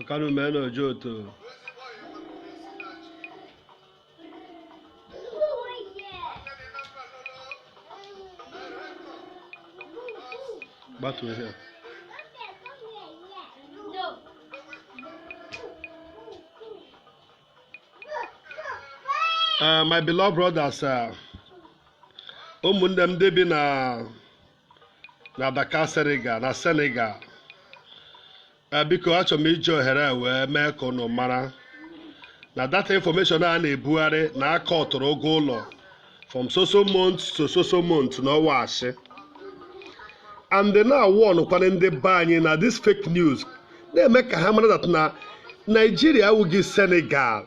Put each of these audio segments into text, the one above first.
ọkanu mee na ojo oto gbatuo ihe a. Uh, my beloved brothers, uh, ụmụnne m ndị bi na na Dakar Senegal na Senegal Eh, biko achọrọ m iji ohere a wee mee ka unu mara na that information a na-ebugharị na aka ọtụrụ ụgwọ ụlọ from so so month to so so month na ọ wụ asị and na-awọnụkwana ndị be anyị na this fake news na-eme ka ha mara that na Naijiria awụghị Senegal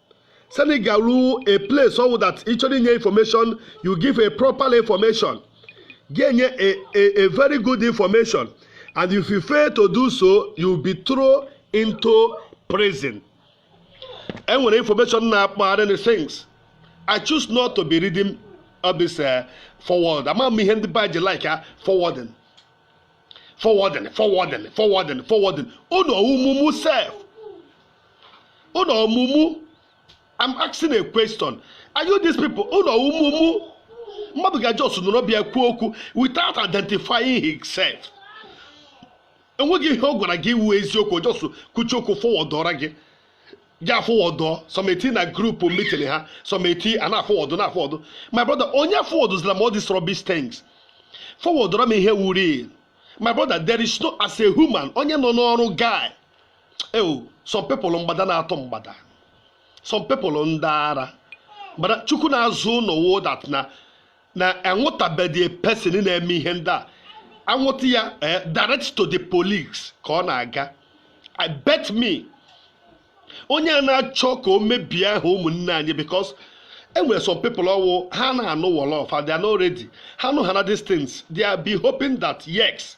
send it garu a place so that ịchọrọ inye information you give a proper information ga-enye a, a, a very good information and if you fail to do so you be thrown into prison enwere information na-akpagharị the things i choose not to be reading all this uh, forward ama m ihe ndị be ji like ya forwarding forwarding forwarding forwarding forwarding unu ọwụmụmụ self unu ọ mumu I'm asking a question are you these people unu ọ mumu mmadụ ga just nọrọ bịa kwuo okwu without identifying himself enweghị ihe ọ gwara gị wụ eziokwu just kwucha okwu fọwọdụọra gị gị afọwọdụọ something na group meeting ha something a na-afọwọdụ na-afọwọdụ my brother onye fọwọdụzila m all these rubbish things fọwọdụra m ihe wụ real my brother there is no as a human onye nọ n'ọrụ guy ewu some people mgbada na-atụ mgbada some people ndị ara but Chukwu na-azọ unu o that na na anwụtabedị person na-eme ihe ndị a anwụta ya eh, direct to the police ka ọ na-aga i bet me onye a na-achọ ka o mebie aha ụmụnne anyị because enwere some people ọwụ ha na-anụ Wolof and they are not ready ha nụhana these things they are be hoping that yes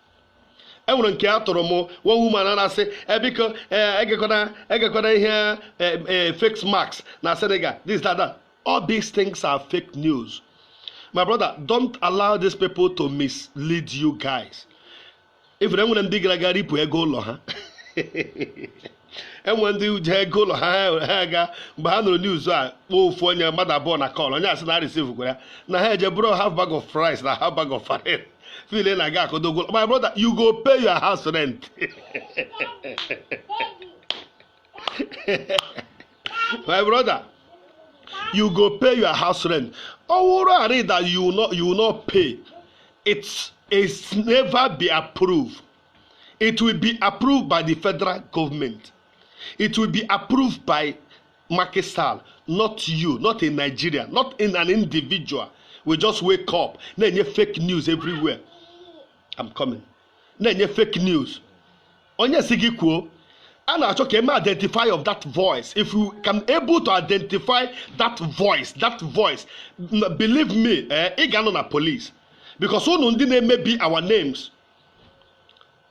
enwere nke a tụrụ m one woman a na-asị e biko egekwana egekwana ihe fake masks na Senegal this that that all these things are fake news my brother don't allow these people to mislead you guys if enwere ndị gara aga ripụ ego ụlọ ha enwe ndị ji ego ụlọ ha ha aga mgbe ha nụrụ news a kpọọ ofu onye mmadụ abụọ na call onye a sị na receive gwara ya na ha eje buru half bag of rice na half bag of farine feel na aga akodo ụgwọ my brother you go pay your house rent my brother you go pay your house rent ọwụrụ arị that you no you no pay it's it's never be approved it will be approved by the federal government it will be approved by Macky Sall not you not in Nigeria not in an individual we just wake up na-enye fake news everywhere I'm coming na-enye fake news onye si gị kwuo a na-achọ ka e mee identify of that voice if you can able to identify that voice that voice believe me eh, ị ga-anọ na police because unu ndị na-emebi our names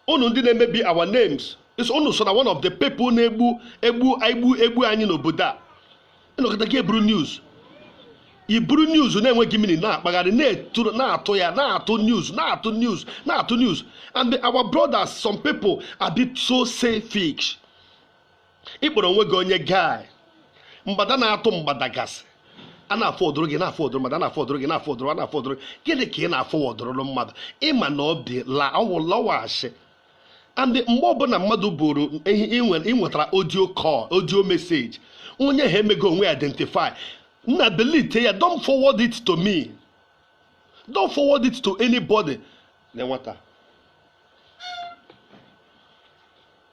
unu ndị na-emebi our names is unu so na one of the people na-egbu egbu egbu egbu anyị n'obodo a ị nọkata gị eburu news i buru news na-enweghị meaning na-akpagharị na-etu- na-atụ ya na-atụ news na-atụ news na-atụ news and our brothers some people are being so selfish ị kpọrọ onwe gị onye guy mgbada na-atụ mgbada gasị a na-aforwardụrụ gị na-aforwardụrụ mmadụ a na-aforwardụrụ gị na-aforwardụrụ a na-aforwardụrụ gịnị ka ị na-aforwardụrụ mmadụ ị ma na ọ dị la ọwụ la ọ wụ ashị and mgbe ọbụla mmadụ bụrụ ị nwetara audio call audio message onye ha emego onwe identify nna delete ya don't forward it to me don't forward it to anybody na nwata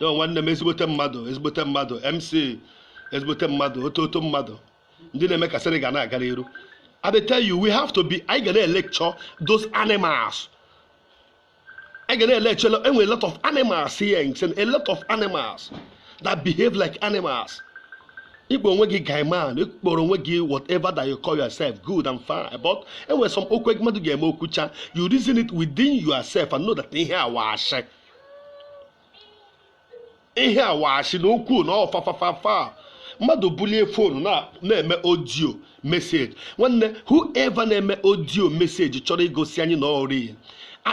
yo nwanne m ezigbote mmadụ ezigbote mmadụ mc ezigbote mmadụ ọtụtụ mmadụ ndị na-eme ka Senegal na-aga n'iru I dey tell you we have to be anyị ga na-electure those animals anyị ga na-electure enwe a lot of animals here in Chen, a lot of animals that behave like animals ị kpọọ onwe gị guy man ị kpọrọ onwe gị whatever that you call yourself good and fine but e nwere some okwu mmadụ ga-eme o kwuchaa you reason it within yourself and know that ihe a wụ ashị ihe a wụ ashị na okwu na ọ fa fa fa fa mmadụ bulie phone na- na-eme audio message nwanne whoever na-eme audio message chọrọ igosi anyị na ọ real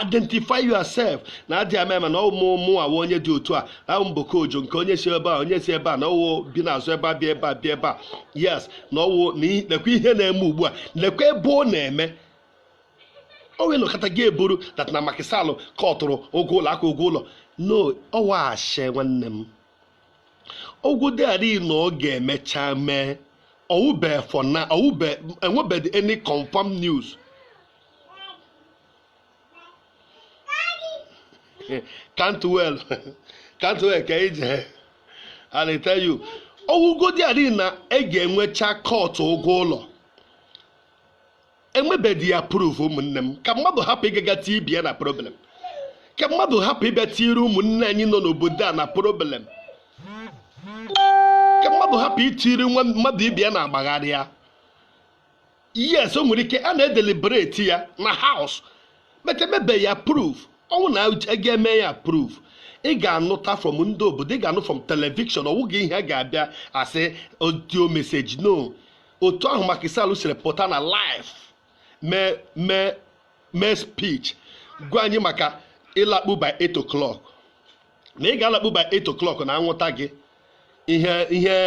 identify yourself na adị ama ama na ọ wụ mụ mụ wụ onye dị otu a ahụ mboko ojo nke onye si ebe a onye si ebe a na ọwụ bi n'azụ ebe a bịa ebe a bịa ebe a yes na ọwụ na i- lekwa ihe na-eme ugbu a lekwa ebe ọ na-eme o wee nọkata gị eburu that na Macky Sall kọtụrụ ụgwọ ụlọ aka ụgwọ ụlọ no ọ wụ ashị nwanne m ọ wụgodi ari na ọ ga-emecha mee ọwụbe for now ọwụbe enwebeghị any confirm news can't well can't well ka ije and I tell you ọ wụgodi ari na e ga-emecha kọtụ ụgwọ ụlọ emebedị ya approve ụmụnne m ka mmadụ hapụ ịgaga tie ibe ya na problem ka mmadụ hapụ ịbịa tiere ụmụnne anyị nọ n'obodo a na problem ka mmadụ hapụ itiri nwa mmadụ ibe ya na-agbagharị ya yes o nwere ike a na-edeliberate ya na house but emebe ya approve ọ wụ na a ga-eme ya approve ị ga-anụta from ndị obodo ị ga-anụ from television ọ wụghị ihe a ga-abịa asị audio message no otu ahụ Macky Sall siri pụta na live mee mee mee speech gwa anyị maka ịlakpu by 8 o'clock na ị ga-alakpu by 8 o'clock na anwụta gị ihe ihe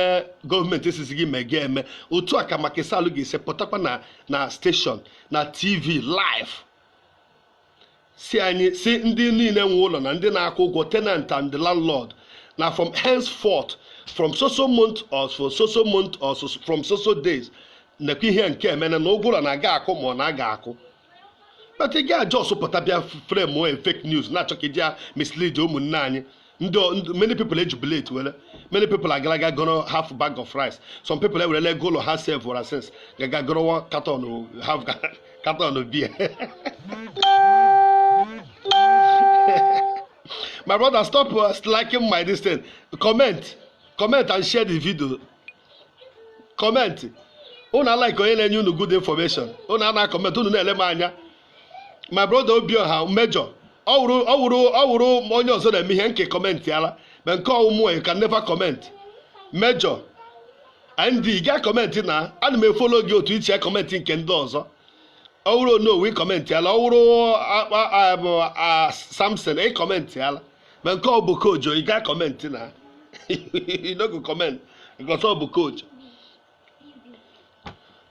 government esizi gị mee gị eme otu a ka Macky Sall ga-esi pụtakwa na na station na tv live sị anyị sị ndị niile nwe ụlọ na ndị na-akwụ ụgwọ tenant and the landlord na from henceforth from soso month or from soso month or from soso days nekwa ihe nke e mene na ụgwọ ụlọ na a ga-akwụ ma ọ na a ga-akwụ but ị ga-ajust pụta bịa frame fake news na-achọ ka i ji ya mislead ụmụnne anyị ndị ọ- ndị- many people ejubilate were many people agala ga gọrọ half bag of rice some people ewerela ego ụlọ ha save wara since gaga gọrọ one carton o- half ga- carton of beer my brother stop uh, liking my this thing comment comment and share the video comment unu alike onye na-enye unu good information unu ana comment unu na-ele m anya my brother Obioha Major ọ wụrụ ọ wụrụ ọ wụrụ onye ọzọ na-eme ihe nke commentịala but nke ọ wụ mụọ you can never comment Major and ị gaa comment na ana m efollow gị otu i si ecomment nke ndị ọzọ ọ wụrụ Onowu ị commentịala ọ wụrụ akpa a- bụ, a, Samson ị commentịala but nke ọ bụ Kojo ị gaa comment na you no go comment because ọ bụ Kojo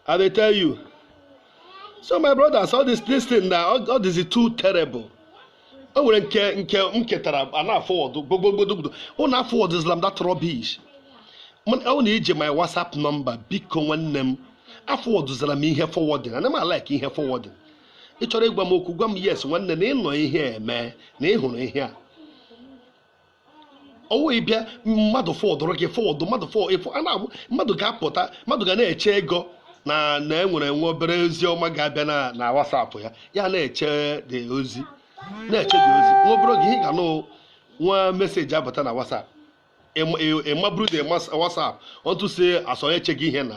I dey tell you. So my brothers, all this this thing na all, all this is too terrible. O nwere nke nke m ketara a na-aforward gbogbogbodogbodo unu aforwardzila m that rubbish. Mana ọ na i ji my WhatsApp number biko nwanne m aforwardzila m ihe forwarding ana m alike ihe forwarding ị chọrọ ịgwa m okwu gwa m yes nwanne na ị nụ ihe e me na ị hụrụ ihe a ọ wụhị ịbịa mmadụ forwardrụ gị forward mmadụ fọ ịfọ a na-abụ mmadụ ga-apụta mmadụ ga na-eche ego na na enwere nwa obere ozi ọma ga-abịa na na WhatsApp ya ya na-eche the ozi na-eche the ozi nwa obere oge ihe ị ga-anụ wụ message abata na WhatsApp ị maburu the WhatsApp otu si asọ eche gị ihe na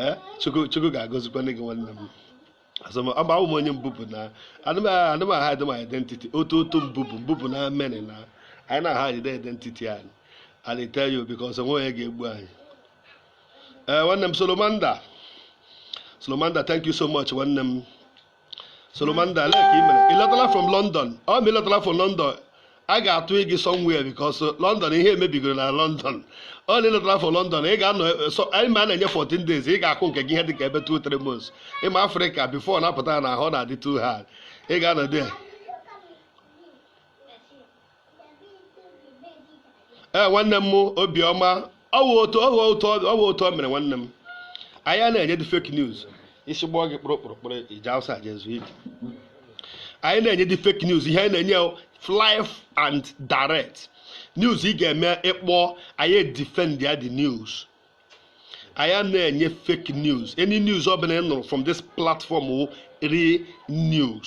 ee chukwu chukwu ga-agọzikwanụ gị nwanne m asọm ọ bụ m onye Mbubu na anaghị m ahide m identity otu otu Mbubu Mbubu na mene na anyị anaghị ahide identity anyị and I tell you because o nweghị onye ga-egbu anyị ee nwanne m solomanda solomanda thank you so much nwanne m Solomanda like i mere ịlọtala from London ọ ma ịlọtala from London a ga-atụ gị somewhere because London ihe emebigoro na London ọ na ịlọtala from London ị ga-anọ so anyị ma a na-enye 14 days ị ga-akụ nke gị ihe dị ka ebe 2 3 months ị ma Africa before na-apụta na ahụ na-adị too hard ị ga-anọdụ ya ee eh, nwanne m obiọma ọ wụ otu ọ wụ otu ọ wụ otu o mere nwanne m anyị anaghị enye dị fake news isi gbọọ gị kpụrụ kpụrụ kpụrụ i jee outside jee zuo ike anyị anaghị enye dị fake news ihe anyị na-enye live and direct news ị ga-eme ị kpọọ anyị edefend ya the news anyị anaghị enye fake news any news ọ bụla ị nụrụ from this platform wụ real news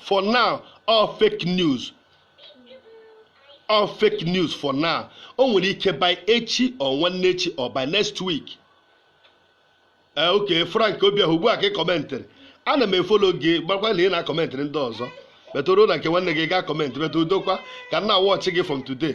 for now all fake news all fake news for now o nwere ike by echi or nwanne echi or by next week ee eh, okay Frank Obiahụ ugbu a ka ị kọmentịrị ana m efolo gị marakwa na ị na-akọmentịrị ndị ọzọ but o ruo na nke nwanne gị ị gaghị akọmentị but udokwa ka m na-awọchị gị from today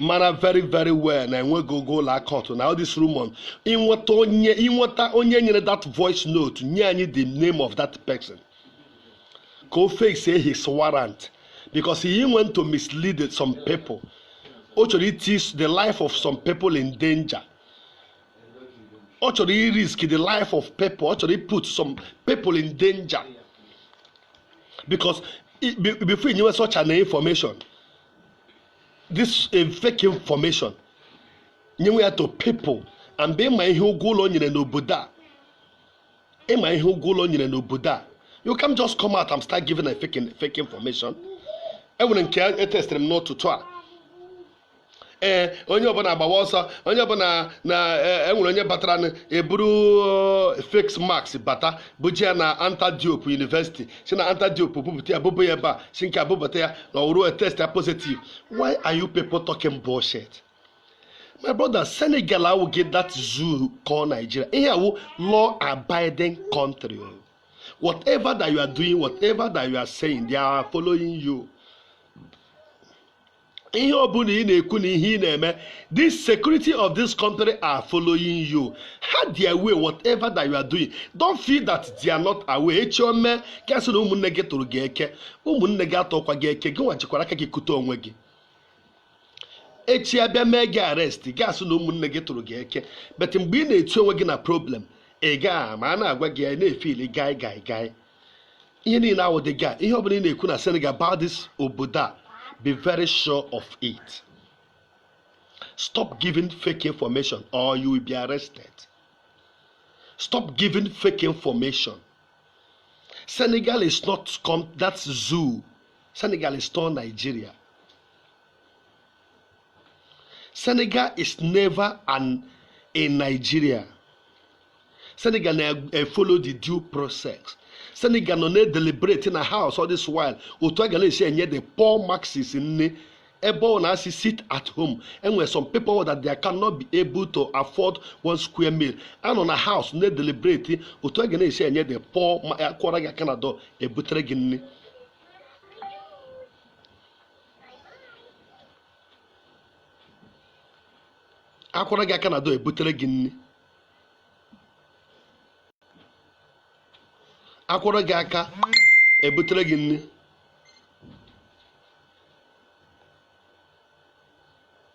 mara very very well na enweghị ogo ụlọ aka ọtụ na this rumor inweta onye inweta onye nyere that voice note nye anyị the name of that person ka o face his warrant because he went to mislead some people o chọrọ iti the life of some people in danger ọ chọrọ i risk the life of people ọ chọrọ i put some people in danger because before you knew such an information this a fake information nyewe ya to people and be ị ma ihe wụ law e nyere n'obodo a ị ma ihe wụ law e nyere n'obodo a you can't just come out and start giving a fake, fake information enwere nke etestịrị m n'ụtụtụ a ee eh, onye ọbụla agbawa ọsọ onye ọbụla na enwere eh, onye batara eburu eh, face mask bata bujee ya na Anta Diop University si na Anta Diop bupụta ya buba ya ebe a si nke ebubata ya na ọ wụrụ a test ya positive why are you people talking bullshit my brother senegal awụghị that zoo called nigeria ihe a wụ law abiding country o whatever that you are doing whatever that you are saying they are following you ihe ọbụla ị na-ekwu na ihe ị na-eme the security of this country are following you ha dị aware whatever that you are doing don't feel that they are not aware echi o mee gị asị na ụmụnne gị tụrụ gị eke ụmụnne gị atọkwa gị eke gị nwa jikwara aka gị kute onwe gị echi abịa mee gị arrest gị asị na ụmụnne gị tụrụ gị eke but mgbe ị na-etinye onwe gị na problem ị gaghị ama a na-agwa gị ị na-efili guy guy guy ihe niile awụghị dị guy ihe ọbụla ị na-ekwu na senegal about this obodo a be very sure of it stop giving fake information or you will be arrested stop giving fake information senegal is not comme that zoo senegal is not nigeria Senegal is never in Nigeria Senegal na-efolo the due process Senegal nọ na-edeliberate na house all this while otu a ga na-esi enye the poor masses nri ebe ọ na-asị sit at home enwere some people that they cannot be able to afford one square meal anọ na house na-edeliberate otu a ga na-esi enye the poor ma akụọrọ gị aka na door ebutere gị nri akụọrọ gị aka na door ebutere gị nri akụọrọ gị aka ebutere gị nri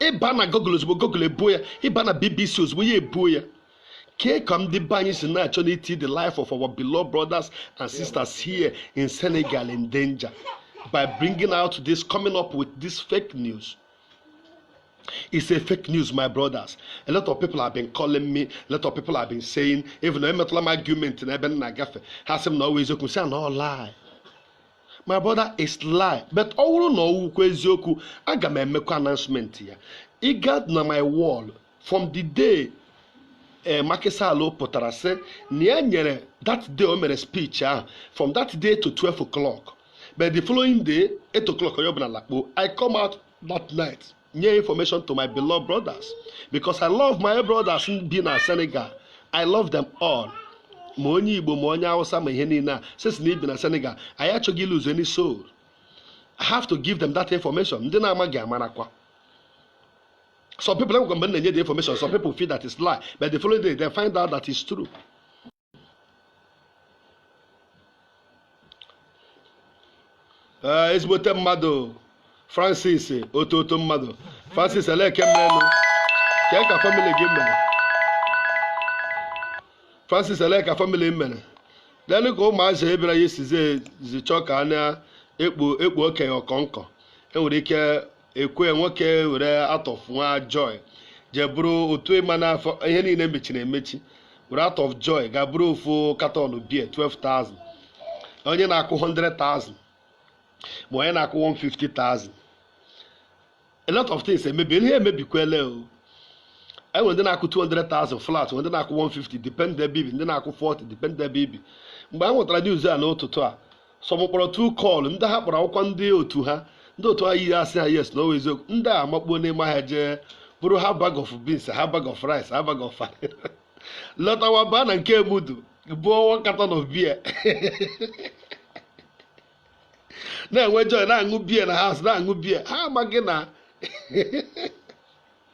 ịba na Google ozugbo Google ebuo ya ịba na BBC ozugbo ya ebuo ya kee ka ndị be anyị si na-achọ n'iti the life of our beloved brothers and sisters here in Senegal in danger by bringing out this coming up with this fake news It's a fake news, my brothers. A lot of people have been calling me. A lot of people have been saying, even though I'm not my argument, and I've been in a gafe. Has him not always open. Say, no lie. my brother it's lie but ọ wụrụ na ọ wụkwa eziokwu aga m emekwa announcement ya ị gaa na my wall from the day eh, Macky Sall pụtara sị na ya nyere that day o mere speech ahụ from that day to 12 o'clock but the following day 8 o'clock onye ọbụla lakpuo I come out that night nye information to my beloved brothers because I love my brothers bi na Senegal I love them all ma onye Igbo ma onye Hausa ma ihe niile a sisi na i bi na Senegal anyị achọghị iluzu any soul I have to give them that information ndị na-amaghị amarakwa some people enwekwa mgbe m na-enye the information some people feel that it's lie but the following day they find out that it's true ee ezigbote mmadụ Francis otu otu mmadụ Francis eleke mmenụ kee ka family gị mere Francis elee ka family mere then ka ụmụazị ebere ya esizi ezi chọọ ka a na-ekpu ekpu okenye ọkọnkọ enwere ike ekwe nwoke were out of joy jee buru otu ịma na ihe niile mechiri emechi were out of joy ga buru ofu carton beer 12,000 onye na-akwụ 100,000 ma onye na-akwụ 150,000 a lot of things emebi ihe emebikwele o enwere ndị na-akwụ 200,000 flat ndị na-akwụ 150 depend ebe i bi ndị na-akwụ 40 depend ebe i bi mgbe ha nwetara news a n'ụtụtụ a some kpọrọ two call ndị ha kpọrọ akpọkwa ndị otu ha ndị otu ha yiri asị ha yes na ọ wụ eziokwu ndị a amakpuo n'ime ahịa jee buru half bag of beans half bag of rice half bag of lọtawa baa na nke Emudu buo one carton of beer na-enwe joy na-aṅụ beer na house na-aṅụ beer ha amaghị na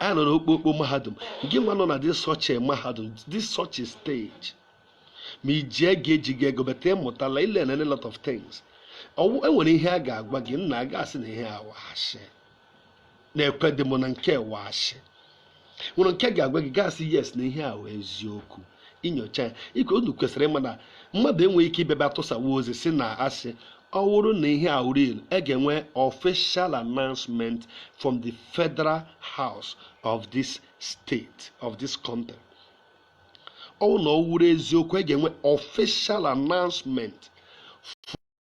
a nọ n'okpokpo mahadum gị nwa nọ na this such a mahadum this such a stage ma iji ego ejighị ego bata ịmụtala ị learn a lot of things ọwụ enwere ihe a ga-agwa gị nna aga asị na ihe a wụ ashị na-ekwe dị m na nke wụ ashị nwere nke ga-agwa gị ị ga-asị yes na ihe a wụ eziokwu inyocha ya ihe unu kwesịrị ịma na mmadụ enweghị ike ịbịa ebe a tụsawa ozi si na asị ọ wụrụ na ihe a real a ga-enwe official announcement from the federal house of this state of this country ọ wụrụ na ọ wụrụ eziokwu a ga-enwe official announcement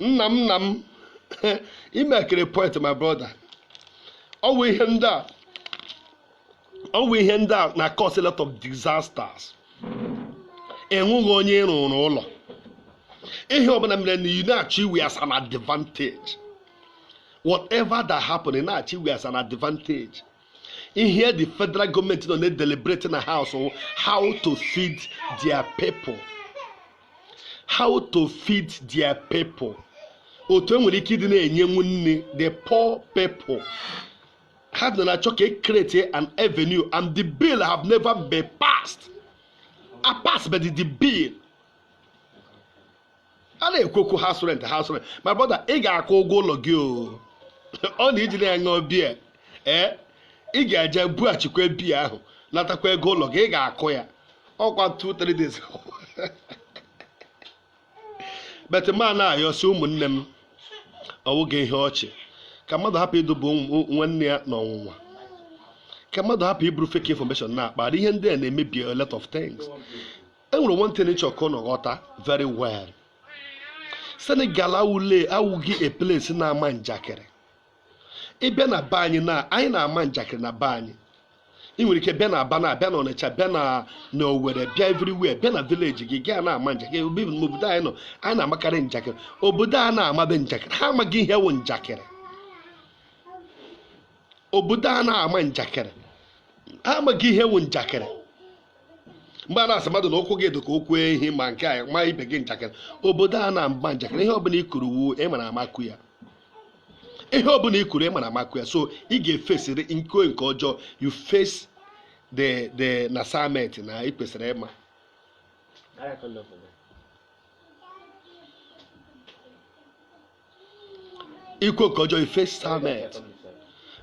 nna m nna m imekere point my brother ọ wụ ihe ndị a na cause a lot of disasters enweghị onye rụrụ ụlọ ihe ọbụla mere na ị na-achọ iwe as an advantage whatever that happened ị na-achọ iwe as an advantage ihe the federal government nọ na-edeliberate na house how to feed their people how to feed their people otu e nwere ike ịdị na-enyenwu nne the poor people ha dị na-achọ ka e create an avenue and the bill have never been passed a pass but the bill a na-ekwu okwu house rent house rent my brother ị ga-akwụ ụgwọ ụlọ gị o ọ na iji na-aṅụ biya ee ị ga-eje bughachikwa biya ahụ natakwa ego ụlọ gị ị ga-akwụ ya ọkwa 2-3 days but m na-ayọsi ụmụnne m ọwụghị ihe ọchị ka mmadụ hapụ iduba nwanne ya n'ọnwụnwa ka mmadụ hapụ iburu fake information na-akpa ihe ndị a na-emebi a lot of things enwere one thing ịchọ ka unu ghọta very well senegal awụghị a place na-ama njakịrị ịbịa na be anyị na anyị na-ama njakịrị na be anyị ị nwere ike bịa na aba na bịa na ọnịcha bịa na owere bịa everywhere bịa na village gị gaa na-ama njakịrị obodo anyị nọ anyị na-amakarị njakịrị obodo a na-amabe njakịrị ha amaghị ihe wụ njakịrị obodo a na-ama njakịrị ha amaghị ihe wụ njakịrị mgbe a na-asị mmadụ na ụkwụ gị dị ka ụkwụ ehi ma nke a ma ibe gị njakịrị obodo a na-ama njakịrị ihe ọbụla i kwuru wụ ị mara ama kwuo ya ihe ọbụla i kwuru ị mara ama kwuo ya so ị ga-efesịrị nke nke ọjọọ you face the the na assignment na ị kwesịrị ịma i kwuo nke ọjọọ ị face samet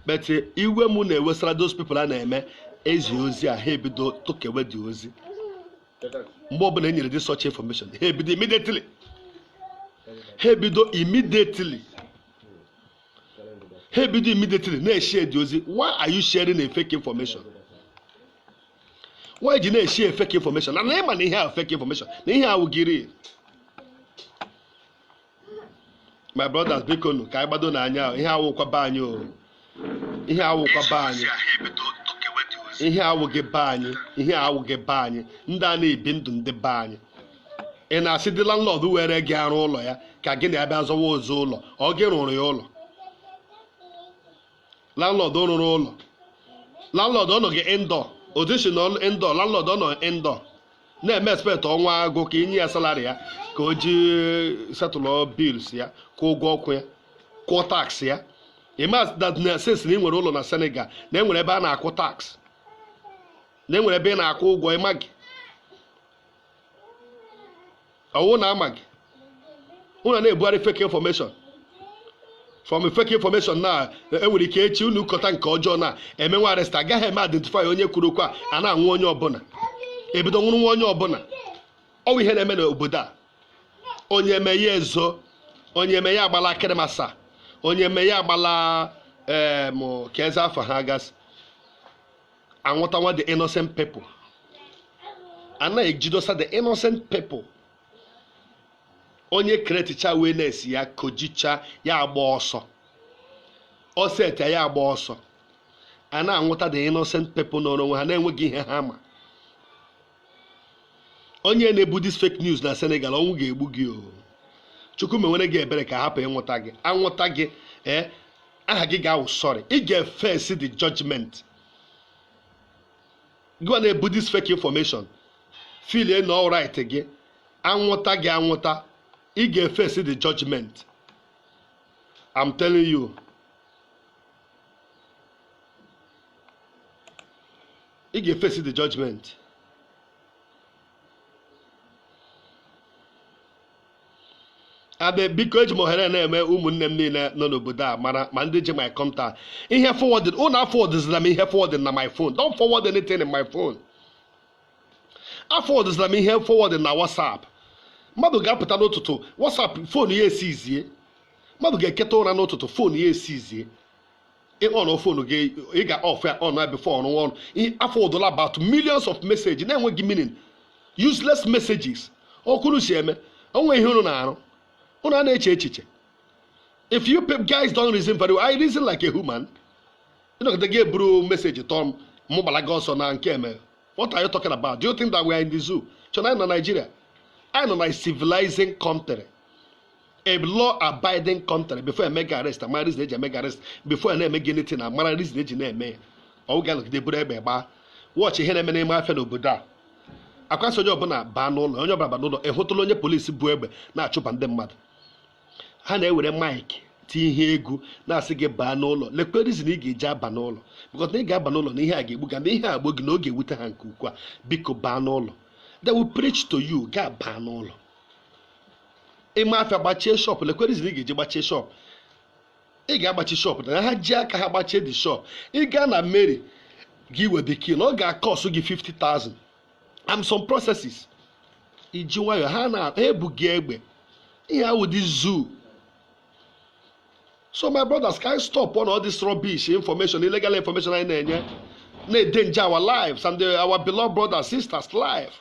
but iwe mụ na-ewesara those people a na-eme ezi ozi a ha ebido tokewe the ozi mgbe ọbụla e nyere dị such information ha ebido immediately ha ebido immediately ha ebido immediately na-eshare the ozi why are you sharing a fake information why i ji na-eshare fake information na na ịma na ihe a fake information na ihe awụghị real my brothers bikonụ ka anyị gbado n'anya ihe awụkwa be anyị o ihe awụkwa be anyị ihe awụghị be anyị ihe awụghị be anyị ndị a anaghị ebi ndụ ndị be anyị ị na-asị the landlord were gị arụ ụlọ ya ka gị na ya bịa zọwa ụzọ ụlọ ọ gị rụrụ ya ụlọ landlord rụrụ ụlọ landlord ọ nọghị indoor otu si nọ indoor landlord ọ nọ indoor na-eme expect ọnwa agwụ ka i nye ya salary ya ka o ji settle bills ya kwụọ ụgwọ ọkụ ya kwụọ tax ya ịma that na since na ị nwere ụlọ na Senegal na enwere ebe a na-akwụ tax na enwere ebe ị na-akwụ ụgwọ ị maghị ọwụ na amaghị unu na-ebugharị fake information from fake information na enwere ike echi unu kọta nke ọjọọ na emewe arrest agaghị eme identify onye kwuru okwu a a na-anwụ onye ọbụla e bido nwụrụwe onye ọbụla ọwụ ihe na-eme n'obodo a onye eme ya ezo onye eme ya agbala Keur Massar onye eme ya agbala em keezi afa ha gasị anwụtawa the innocent people a na-ejidosa the innocent people onye createcha awareness ya causecha ya agba ọsọ ọ seta ya agba ọsọ a na-anwụta the innocent people nọọrọ onwe ha na-enweghị ihe ha ma onye na-ebu this fake news na Senegal ọnwụ ga-egbu gị o chukwu mewere gị ebere ka a hapụ ịnwụta gị anwụta gị ee eh, aha gị ga-awụ sorry ị ga-eface the judgment gị na-ebu this fake information feel na ọ right gị anwụta gị anwụta ị ga-eface the judgment I'm telling you ị ga-eface the judgment abe biko eji m ohere na-eme ụmụnne m niile nọ n'obodo a mara ma ndị ji my contact ihe forward unu aforwardzila m ihe forward na my phone don't forward anything in my phone aforwardzila m ihe forward na whatsapp mmadụ ga-apụta n'ụtụtụ whatsapp phone ya eseize mmadụ ga-eketa ụra n'ụtụtụ phone ya eseize ị on phone gị ị ga off ya on ya before unu aforwardla about millions of messages na-enweghị meaning useless messages otu unu si eme onwe ihe unu na-arụ unu a na-eche echiche if you guys don't reason very well I reason like a human ị nọgide gị eburu message tọọ m mụ gbara gị ọsọ na nke eme what are you talking about do you think that we are in the zoo chọ na anyị nọ Nigeria anyị nọ na civilizing country a law abiding country before eme gị arrest amara reason eji eme gị arrest before a na-eme gị anything amara reason eji na-eme ya ọwụghị anọgide buru egbe gbaa watch ihe na-eme n'ime afịa n'obodo a ọkwa asị onye ọbụla baa n'ụlọ onye ọbụla baa n'ụlọ ịhụtụla onye polisi bu egbe na-achụba ndị mmadụ ha na-ewere mic tie ihe egwu na-asị gị baa n'ụlọ lekwe reason ị ga-eji aba n'ụlọ because na ị ga-aba n'ụlọ na ihe a ga-egbu gị na ihe a gbuo gị na ọ ga-ewute ha nke ukwuu biko baa n'ụlọ they will preach to you gị abaa n'ụlọ ime afịa gbachie shop lekwe reason ị ga-eji gbachie shop ị ga-agbachi shop na ha ji aka ha gbachie the shop ị gaa na mairie gị wee the key na ọ ga-akọsụ gị 50,000 and some processes iji nwayọọ ha ebughị egbe ihe awụghị zoo so my brothers ka anyị stopụọ all this rubbish information illegal information anyị na-enye na-endanger our lives and uh, our beloved brothers sisters life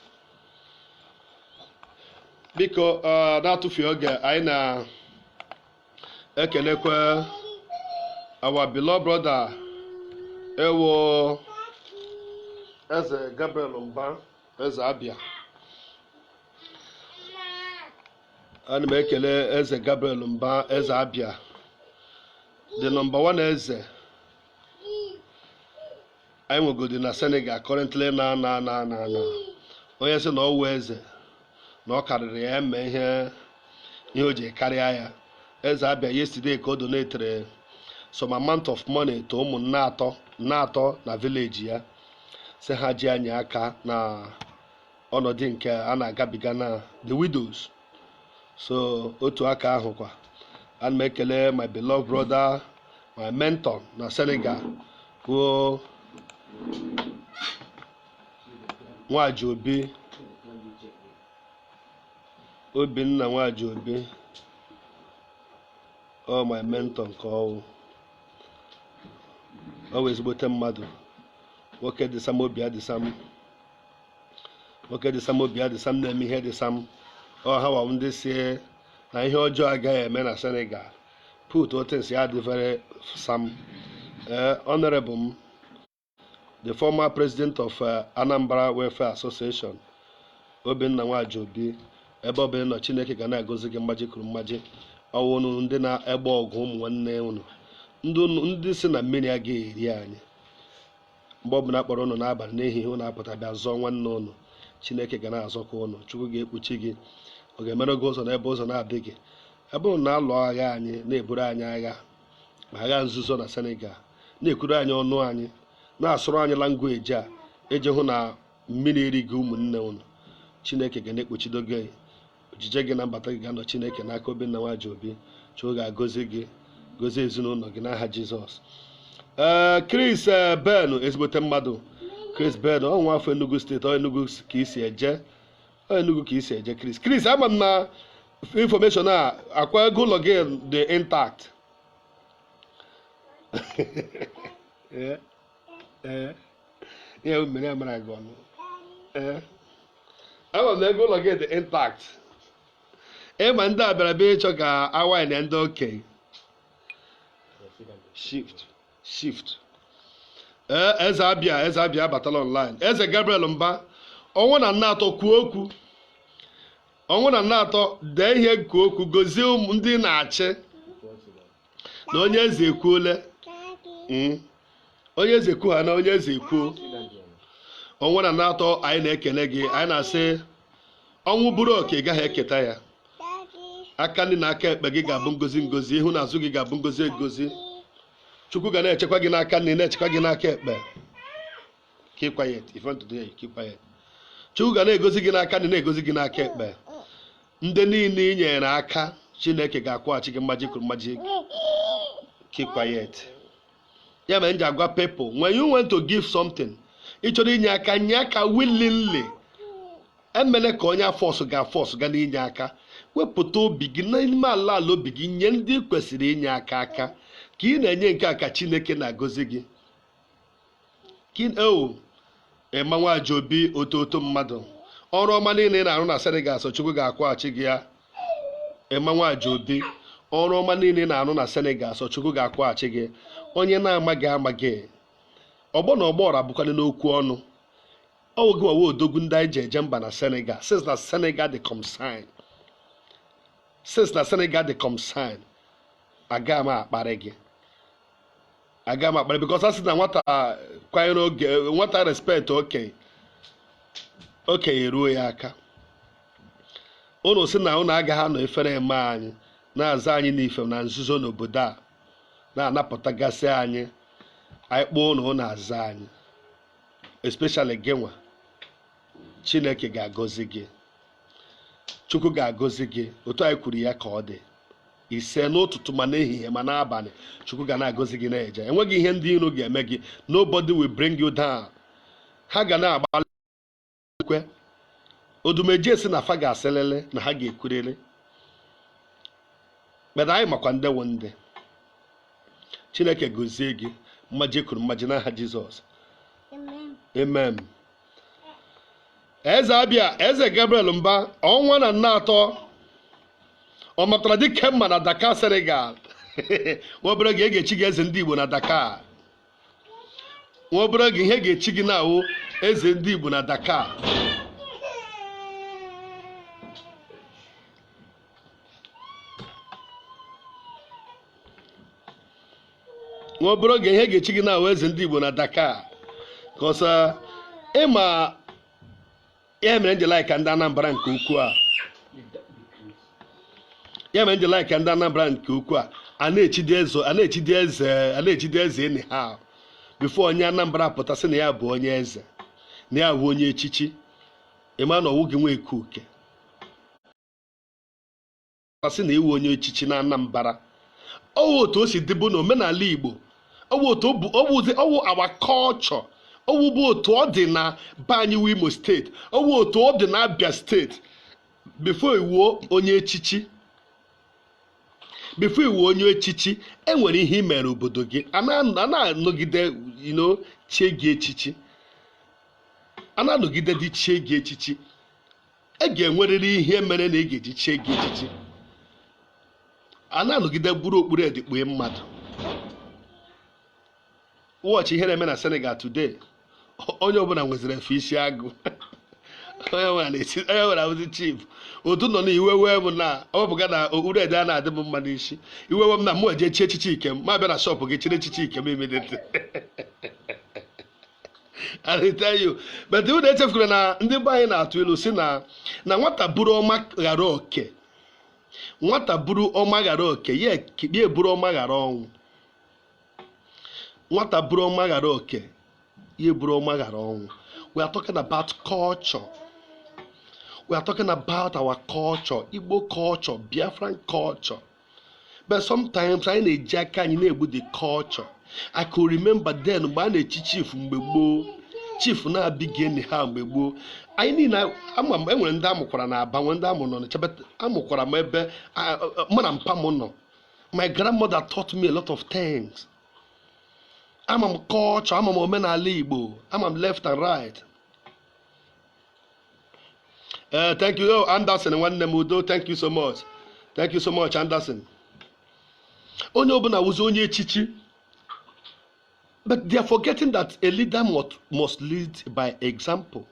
biko eh, na-atụfughị oge anyị na-ekelekwa our beloved brother ewo eze gabriel mba eze abia ana m ekele eze gabriel mba eze abia the number one eze anyị nwegodị na senegal currently na na na na na onye sị na ọwụ eze na ọ karịrị ya eme ihe ihe o ji karịa ya eze abia yesterday ka o donatere some amount of money to ụmụnne atọ na village ya sị ha ji enye aka na ọnọdụ nke a na-agabiga na the widows so otu aka ahụ kwa ana m ekele my beloved brother my mentor na Senegal bụ nwaji obi obinna nwaji obi ọ my mentor nke ọwụ ọ wụ ezigbote mmadụ nwoke dị sam obi ya dị sam nwoke dị sam obi ya dị sam na-eme ihe dị sam ọ ha wụ ndị sị na ihe ọjọọ agaghị eme na senegal putụọ things ya adị very sam ee honorable m the former president of uh, anambra welfare association obinna nwaji obi ebe ọbụla ị nọ chineke ga na-agọzi gị mmaji kwuru mmaji ọwụ unu ndị na-agba ọgụ ụmụ nwanne unu ndị sị na mmiri agaghị eri anyị mgbe ọbụla akpọrọ ụnụ n'abalị n'ehihie ụnụ apụta bịa zọọ nwanne ụnụ chineke ga na-azọkwa ụnụ chukwu ga-ekpuchi gị ọ ga-emere gị ụzọ n'ebe ụzọ na-adịghị ebe ụnụ na-alụ agha anyị na-eburu anyị agha ma agha nzuzo na senegal na-ekwuru anyị ọnụ anyị na-asụrụ anyị language eji hụ na mmiri erighị ụmụnne ụnụ chineke ga na-ekpuchido gị ojije gị na mbata gị ga-anọ chineke n'aka obinna nwajiobi chukwu ga-agọzi gị gọzie ezinụlọ gị n'aha jizọs ee chris eh, ben ezigbote mmadụ chris ben ọ nwa afọ enugu steeti ọ enugu ka i si eje ọ enugu ka i si eje chris chris ama m na information a akwa ego ụlọ gị dị intact Yeah. ee ihe bụ mere amara gị ọnụ ee ama m na ego ụlọ gị dị intact ee ma ndị a bịara bịa ịchọ ka awaị na ndị okenye shift shift ee eze abịa eze abịa abatala online eze gabriel mba ọnwụ na nna atọ kwuo okwu ọnwụ na nna atọ dee ihe kwuo okwu gọzie ụmụ ndị ị na-achị na onye eze ekwuole mm, onye eze kwuo ha na onye eze ekwuo ọnwa na nna atọ anyị na-ekele gị anyị na-asị ọnwụ bụrụ oke ị gaghị eketa ya aka nri na aka ekpe gị ga-abụ ngọzi ngọzi ihu na azụ gị ga-abụ ngọzi egozi chukwu ga na-echekwa gị n'aka nri na-echekwa gị n'aka ekpe keep quiet if you want to do it keep quiet chukwu ga na-egozi gị n'aka nri na-egozi gị n'aka ekpe ndị niile i nyere aka chineke ga-akwụghachi gị mmaji kwuru mmaji keep quiet ya mere m ji agwa people when you want to give something ị chọrọ inye aka nye aka willingly emele ka onye a force ga a force ga n'inye aka wepụta obi gị n'ime ala ala obi gị nye ndị kwesịrị inye aka aka ka ị na-enye nke a ka chineke na-agọzi gị kin ewu emma nwajiobi otu otu mmadụ ọrụ ọma niile ị na-arụ na senegal sọ chukwu ga-akwụghachi gị ya emma nwajiobi ọrụ ọma niile ị na-arụ na senegal sọ chukwu ga-akwụghachi gị onye na-amaghị amaghị ọgbọ na ọgbọ ra bụkwanị n'okwu ọnụ ọ wụ gị nwa wụ odogwu ndị anyị ji eje mba na senegal since na senegal dị concern since na senegal dị concern aga m akparị gị aga m akparị because a sị na nwata kwanyere oge nwata respect okenye okenye eruo ya aka unu sị na unu agaghị anọ ifere eme anyị na-aza anyị n'ife na nzuzo n'obodo a na-anapụtagasị anyị anyị kpọọ unu unu aza anyị especially gị nwa chineke ga-agọzi gị chukwu ga-agọzi gị otu anyị kwuru ya ka ọ dị ise n'ụtụtụ ma n'ehihie ma n'abalị chukwu ga na-agọzi gị na-eje enweghị ihe ndị iro ga-eme gị nobody will bring you down ha ga na-agbalị kwe odumeje sị na fa ga-asịlịlị na ha ga-ekwurịrị mana anyị makwa ndị wụ ndị chineke gọzie gị mmaji kwuru mmaji n'aha jizọs amen eze abịa eze gabriel mba ọnwa na nna atọ ọ matara dike mma na dakar senegal nwa obere oge e ga-echi gị eze ndị igbo na dakar nwa obere oge ihe e ga-echi gị na-awụ eze ndị igbo na dakar nwa obere oge ihe e ga-echi gị na-awụ eze ndị Igbo na Dakar cause ị ma ya mere m ji like ndị Anambra nke ukwuu a ya mere m ji like ndị Anambra nke ukwuu a na-echidi eze anyhow before onye Anambra pụta sị na ya bụ onye eze na ya bụ onye echichi ị ma na ọwụghị nwa ekuke a sị na ị wụ onye echichi na Anambra ọwụ otu o si dịbụ na omenala Igbo ọwụ otu ọ bụ ọwụzi ọwụ our culture ọwụ bụ otu ọ dị na be anyị wụ Imo state ọwụ otu ọ dị na Abia state before ị wụọ onye echichi before ị wụọ onye echichi enwere ihe i mere obodo gị a na- a na-anọgide you know, chie gị echichi a na-anọgide dị chie gị echichi e ga-enwerịrị ihe i mere na e ga-eji chie gị echichi a na-anọgide buru okpu red kpue mmadụ watch ihe na-eme na Senegal today onye ọbụla nweziri efe isi agụ onye ọbụla na-esi onye ọbụla bụzi chief otu nọ na iwe wee m na ọ bụghị na okpu red a na-adị m mma n'isi iwe wee m na mụ eje chie echichi ike m m abịa na shop gị chiri echichi ike m immediately I tell you. but unu echefukwana na ndị be anyị na-atụ ilu sị na na nwata buru ọma ghara oke nwata buru ọma ghara oke ya eburu ọma ghara ọnwụ nwata buru ọma ghara oke ya eburu ọma ghara ọnwụ we are talking about culture we are talking about our culture igbo culture biafran culture but sometimes anyị na-eji aka anyị na-egbu the culture I could remember then mgbe a na-echi chief mgbe gboo chief na-abụghị anyhow mgbe gboo anyị niile ama m enwere ndị a mụkwara na aba nwee ndị a mụ n'ọnịcha but a mụkwara m ebe mma na mpa m nọ my grandmother taught me a lot of things ama m culture ama m omenala igbo ama m left and right ee eh, thank you oh, Anderson nwanne m udo thank you so much thank you so much Anderson onye ọbụla wụzi onye echichi but they are forgetting that a leader must, must lead by example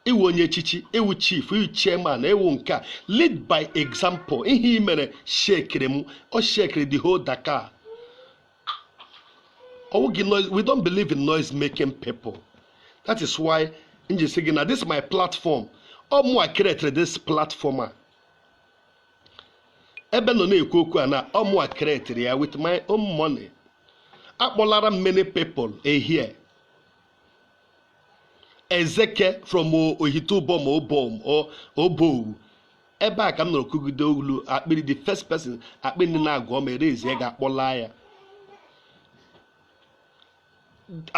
ị wụ onye echichi ị wụ chief ị wụ chairman ị wụ nke a lead by example ihe i mere shekiri m ọ shekiri the whole Dakar we don't believe in noise making people that is why m ji sị gị na this my platform ọ mụwa created this platform a ebe m nọ na-ekwu okwu a na ọ mụwa created ya with my own money akpọlara many people ehie ezeke from ohitubom obom obowu ebe a ka m nọrọ kụgide olu akpịrị the first person akpịrị ndị na-agụ ọma erezie ego akpọla ya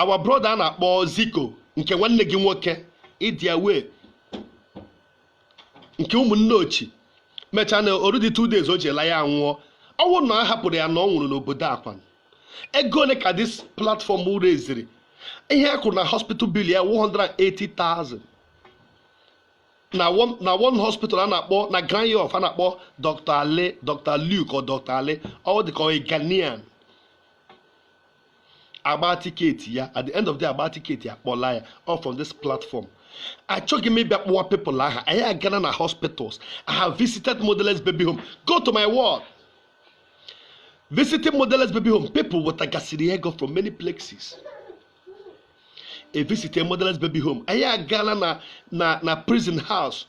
our brother a na-akpọ ziko nke nwanne gị nwoke ịdịa wee nke Ụmụnneochi mechaa na o rudị two days o ji la ya anwụọ ọ wụrụ na a hapụrụ ya na ọ nwụrụ n'obodo akwan ego ole ka this platform reziri ihe a kwụrụ na hospital bill ya 180,000 na one na one hospital a na-akpọ na Grand Yoff a na-akpọ dr ale dr luke or dr ale ọ dị ka ọ ghanaian a gbaa tiketi ya at the end of the day, a gbaa tiketi ya kpọla ya all from this platform achọghị m ịbịa kpọwa people aha anyị agana na hospitals i have visited motherless baby home go to my wall visiting motherless baby home people wetagasịrị ego from many places e visitie motherless baby home anyị agaala na na na prison house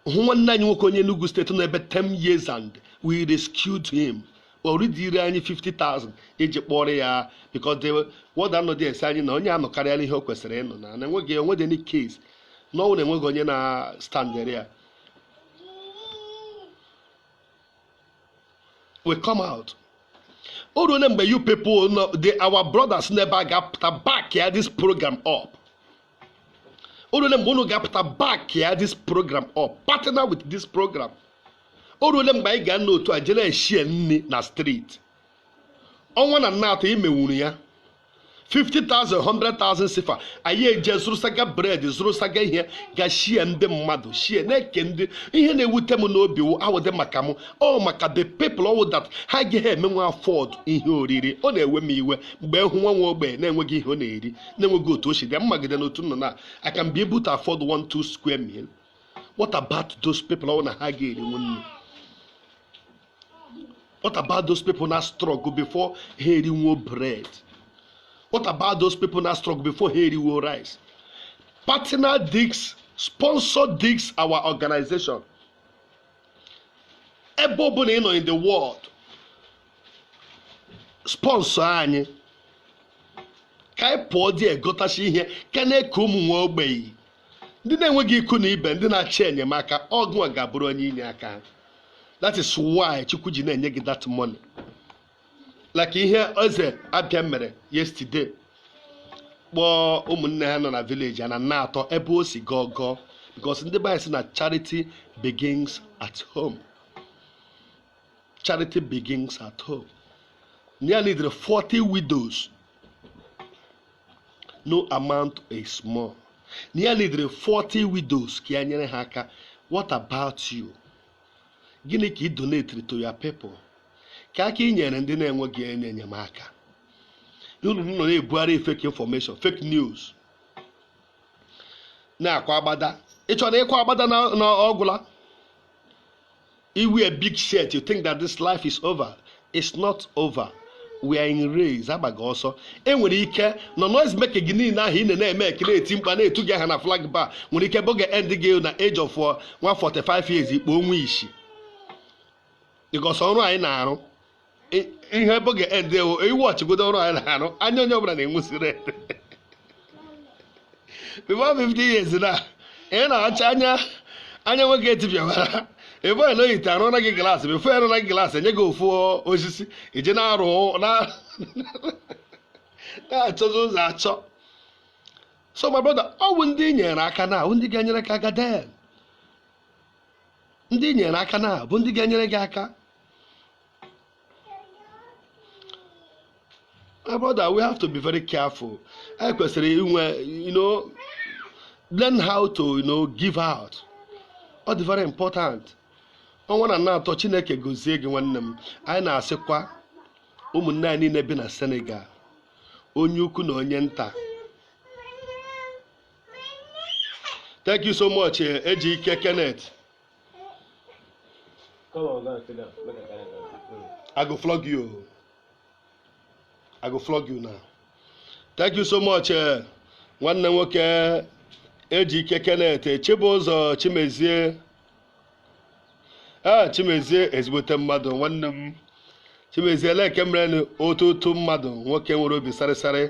hụ nwanne anyị nwoke onye Enugu State nọ ebe 10 years and we rescued him o ridịrị anyị 50,000 iji kpọrọ ya because the warder nọdị asị anyị na onye a anọkarịala ihe o kwesịrị ịnọ na enweghị enweghị any case na ọ wụ na enweghị onye na-standịrị ya we come out o ruole mgbe you people no the our brothers nọ ebe a ga-apụta backịa this program up o ruole mgbe unu ga-apụta backịa this program up partner with this program o ruole mgbe anyị ga-anọ otu a jere eshie nri na street ọnwa na nna atọ i mewuru ya 50,000 100,000 sifa anyị eje zụrụsaga bread zụrụsaga ihe ga shie ndị mmadụ shie na-eke ndị ihe na-ewute m n'obi wụ awụdị maka m ọ maka the people ọ wụ that ha agaghị emenwe afford ihe oriri ọ na-ewe m iwe mgbe m hụ nwa nwa ogbenye na-enweghị ihe ọ na-eri na-enweghị otu o si dị m magide n'otu m nọ na I can be able to afford one two square meal what about those people ọ wụ na ha aga eriwo nni What about those people na-astruggle before ha eriwo bread? What about those people na-astruggle before ha eriwo rice? Partner digs, sponsor digs our organization. Ebe ọbụla ị nọ in the world, sponsor anyị ka anyị pụọ dị egotasị ihe ka a na-eke ụmụ nwa ogbenye ndị na-enweghị ikwu na ibe ndị na-achọ enyemaka ọ gịwa ga-abụrụ onye inye aka ha. that is why chukwu ji na-enye gị that money like ihe Eze Abia mere yesterday kpọọ ụmụnne ha nọ na village a na nna atọ ebe o si gọọ gọọ because ndị be anyị sị na charity begins at home charity begins at home ya lidere 40 widows no amount is small na ya lidere 40 widows ka ya nyere ha aka what about you gịnị ka ị donetiri to your people kee aka i nyere ndị na-enweghị onye enyemaka unu nọ na-ebugharị fake information fake news na-akwa agbada ị chọrọ ịkwa agbada na ọ gwụla I wear big shirt, you think that this life is over. It's not over. We are in race, a gbaga ọsọ. E nwere ike na noise making gị niile ahụ ị na-eme ka a na-eti mkpu a na-etu gị aha na flag bar nwere ike bụ ga-end gị na age of uh, nwa 45 years i kpuo onwe isi. Because ọrụ anyị na-arụ I- ihe bụ ga-end ewo ị watchigodo ọrụ anyị na-arụ anya onye ọbụla na-enwuzi red before 50 years na ị na-acha anya anya nwoke etipịawara ebe ọla oyite arụ na gị glaasị before arụ na gị glaasị enye gị ofu osisi i ji na-arụ na na-achọzi ụzọ achọ so my brother ọ bụ ndị i nyere aka now bụ ndị ga-enyere gị aka then ndị i nyere aka now bụ ndị ga-enyere gị aka my brother we have to be very careful i kwesịrị inwe you know learn how to you know give out ọ dị very important ọnwa na na-atọ chineke gozie gị nwanne m anyị na-asịkwa ụmụnne anyị niile bi na senegal onye ukwu na onye nta thank you so much eh, Ejike Kenneth Come on, go and sit down. Make I carry am down. Mm. I go flog you. o. I go flog you now. Thank you so much, eh, nwanne nwoke Ejike Kenneth Chibụzọ Chimezie. Ah, Chimezie ezigbote mmadụ nwanne m. Chimezie lee ka i mere otu otu mmadụ nwoke nwere obi sarịsarị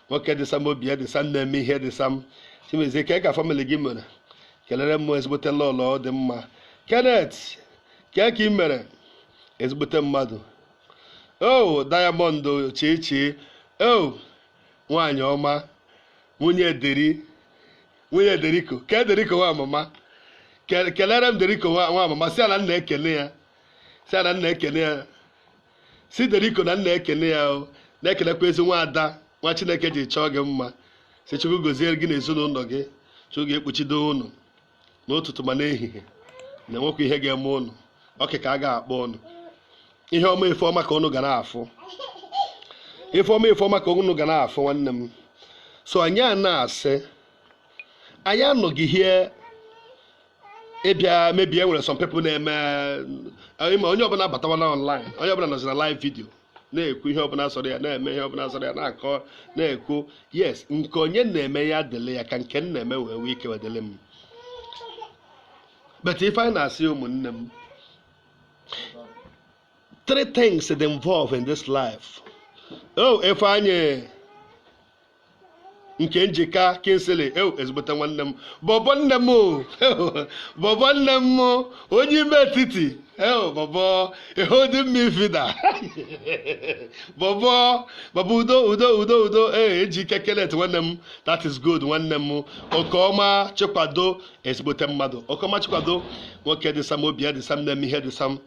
nwoke dị sam obi ya dị sam na-eme ihe dị sam. Chimezie kee ka family gị mere kelere m ezigbote lọlọ ọ dị mma Kenneth kee ka ị mere ezigbote mmadụ o Diamond chichi o nwaanyị ọma nwunye deri nwunye deriko kee deriko nwamama kelere m deriko nwamama sị ya na m na-ekele ya sị ya na m na-ekele ya sị Deriko na m na-ekene ya o na-ekenekwa ezi nwa ada nwa chineke ji chọọ gị mma sị chukwu gozie gị na ezinụlọ gị chukwu ga-ekpuchido ụnụ n'ụtụtụ ma n'ehihie na enwekwa ihe ga-eme ụnụ ọkị ka a ga-akpọ ụnụ ihe ọma ife ọma ka ụnụ ga na-afụ ife ọma ife ọma ka ụnụ ga na-afụ nwanne m so anyị a na-asị anyị anọghị here ịbịa maybe e nwere some people na-eme eh, ma onye ọbụla batawana online onye ọbụla nọzi na live video na-ekwu ihe ọbụla sọrọ ya na-eme ihe ọbụla sọrọ ya na-akọ na-ekwu yes nke onye na-eme ya dịle ya ka nke m na-eme wee wee ike wedịle m but ife anyị na-asị ụmụnne m three things dey involve in this life oh Ifeanyi Nkemjika Kingsley ew ezigbote nwanne m bọbọ nne m o bọbọ nne m onye ime etiti ew bọbọ ehodi mma ifida bọbọ bọbọ udo udo udo udo ee Ejike Kenneth nwanne m that is good nwanne m okeọma chikwado ezigbote mmadụ okeọma chikwado nwoke dị sam obi ya dị sam na-eme ihe dị sam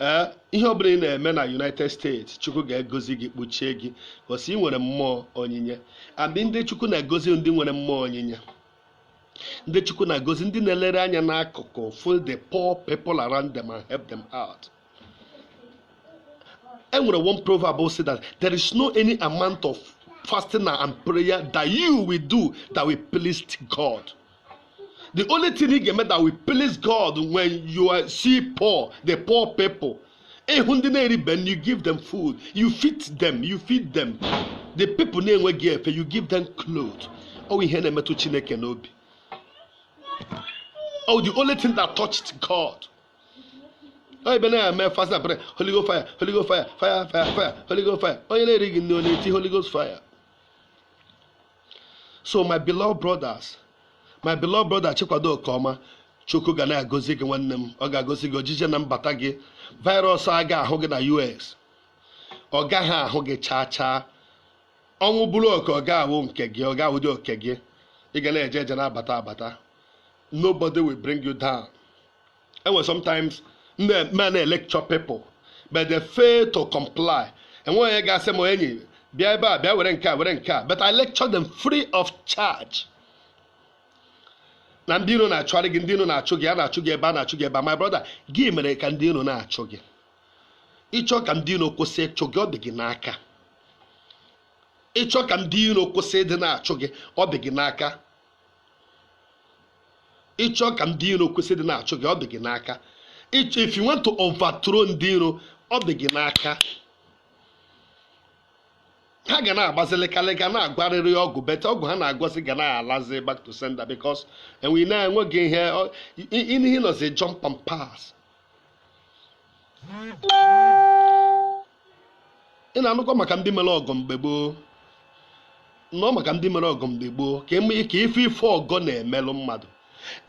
ee eh, ihe ọbụla ị na-eme na united states chukwu ga-egozi gị kpuchie gị because ị nwere mmụọ onyinye and ndị chukwu na-egozi ndị nwere mmụọ onyinye ndị chukwu na-egozi ndị na-elere anya n'akụkụ for the poor people around them and help them out e nwere one proverb say that there is no any amount of fasting and prayer that you will do that will please God. the only thing ị ga-eme that will please God when you are see poor the poor people ị hụ ndị na-eribe nri you give them food you feed them you feed them the people na-enweghị efe you give them clothes ọ ihe na-emetụ Chineke n'obi oh the only thing that touched God oh, ebe na-eme fast and pray holy ghost fire holy ghost fire fire fire fire holy ghost fire onye na-erighị nri ọ na-eti holy ghost fire so my beloved brothers my beloved brother Chikwado Okeoma Chukwu ga na-agọzi gị nwanne m ọ ga-agọzi gị ojije na mbata gị virus a ga-ahụ gị na US ọ gaghị ahụ gị chaa chaa ọnwụ bụrụ oke ọ ga-awụ nke gị ọ ga-awụdị oke gị ị ga na-eje eje na-abata abata nobody will bring you down enwe sometimes m na-electure people but they fail to comply enwe onye ga-asị m enyi bịa ebe a bịa were nke a were nke a but I lecture them free of charge na ndị iro na-achụgharị gị ndị iro na-achụ gị a na-achụ gị ebe a na-achụ gị ebe a my brother gị mere ka ndị iro na-achụ gị ị chọọ ka ndị iro kwụsị ịchụ gị ọ dị gị n'aka ị chọọ ka ndị iro kwụsị ịdị na-achụ gị ọ dị gị n'aka ị chọọ ka ndị iro kwụsị ịdị na-achụ gị ọ dị gị n'aka if you want to overthrow ndị iro ọ dị gị n'aka ha ga na-agbazilikalịga na-agwọrịrị ọgwụ but ọgwụ ha na-agwọzi ga na-alazi back to sender because enwe na-enweghị ihe ọ- i- i- ihe nọzi jump and pass ị na-anụkwa maka ndị mere ọgọ mgbe gboo nọ maka ndị mere ọgọ mgbe gboo ka ife ife ọgọ na-emelụ mmadụ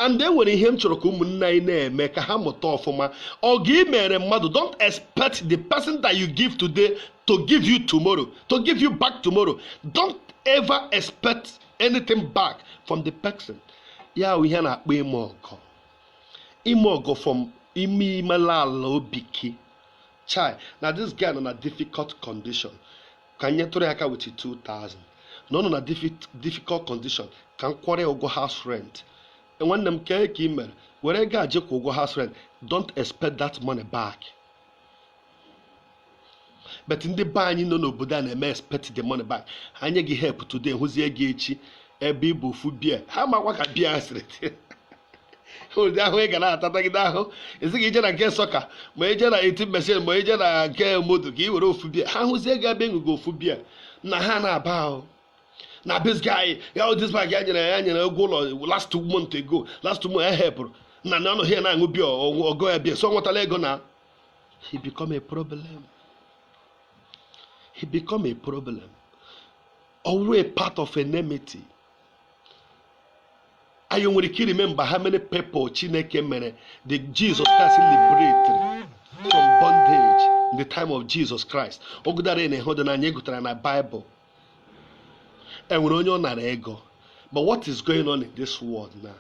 and e nwere ihe m chọrọ ka ụmụnne anyị na-eme ka ha mụta ọfụma ọgọ ị meere mmadụ don't expect the person that you give today to give you tomorrow to give you back tomorrow don't ever expect anything back from the person ya ihe a na-akpọ ime ọgọ ime ọgọ from ime ime ala ala obi gị chai na this guy nọ na difficult condition ka m nyetụrụ ya aka with 2000 na ọ nọ na difficult condition ka m kwụọrọ ya ụgwọ house rent E, nwanne m kee ka ị mere were ego a je kwụọ ụgwọ house rent don't expect that money back but ndị be anyị nọ n'obodo a na-eme expect the money back ha nye gị help today hụzie gị echi ebe ị bu ofu bia ha amakwa ka bia sịrị ụdị ahụ ị ga na-atatagide ahụ ezighị ije na nke sọka ma ije na eti mesin ma ije na nke moto ka ị were ofu bia ha hụzie gị ebe ịṅụgo ofu bia na ha na-aba ahụ na this guy ya this bag ya nyere ya nyere ụgwọ ụlọ last month ago last month m helpụrụ na na ọ nọ here na-aṅụ bia ọgụ ya bia so nwetala ego na he become a problem he become a problem ọ wụ a part of enmity anyị nwere ike iremember how many people chineke mere the jesus christ liberated from bondage in the time of jesus christ ọ gụdara na ịhụ dị na anyị gụtara na bible enwere onye ọ nara ego but what is going on in this world now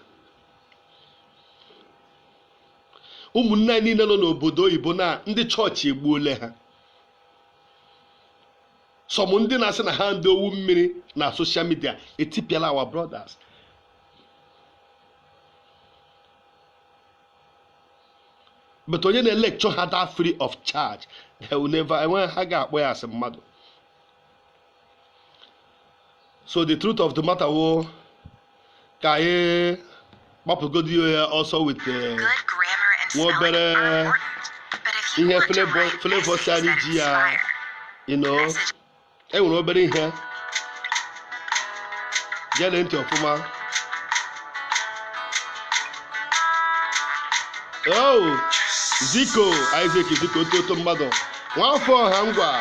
ụmụnne anyị niile nọ n'obodo oyibo na ndị chọọchị egbuole ha some ndị na-asị na ha ndị owu mmiri na social media etipịala our brothers but onye na-electure ha that free of charge they will never enweghị ha ga-akpọ ya asị mmadụ so the truth of the matter wụ ka anyị gbapụgodi ya ọsọ with eh, nwa obere ihe flavor si anyị ji ya you know enwere obere ihe gere ntị ọfụma oh ziko isaac ziko otu otu mmadụ nwafọ ọha ngwa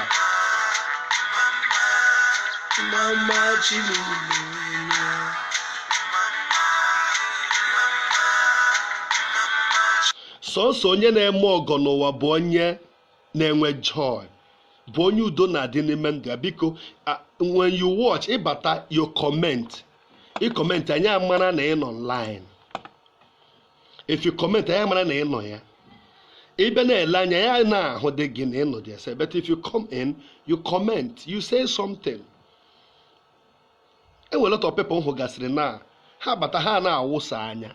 mama chimụlụ sọsọ onye na-eme ọgọ n'ụwa bụ onye na-enwe joy bụ onye udo na-adị n'ime ndụ ya biko a- when you watch ị bata you comment ị comment anyị amara na ị nọ online if you comment anyị amara na ị nọ ya ị bịa na-ele anya ya na-ahụ dị gị na ị nọ dị ese but if you come in you comment you say something e nwere lot of people hụ gasịrị na ha bata ha na-awụsa anya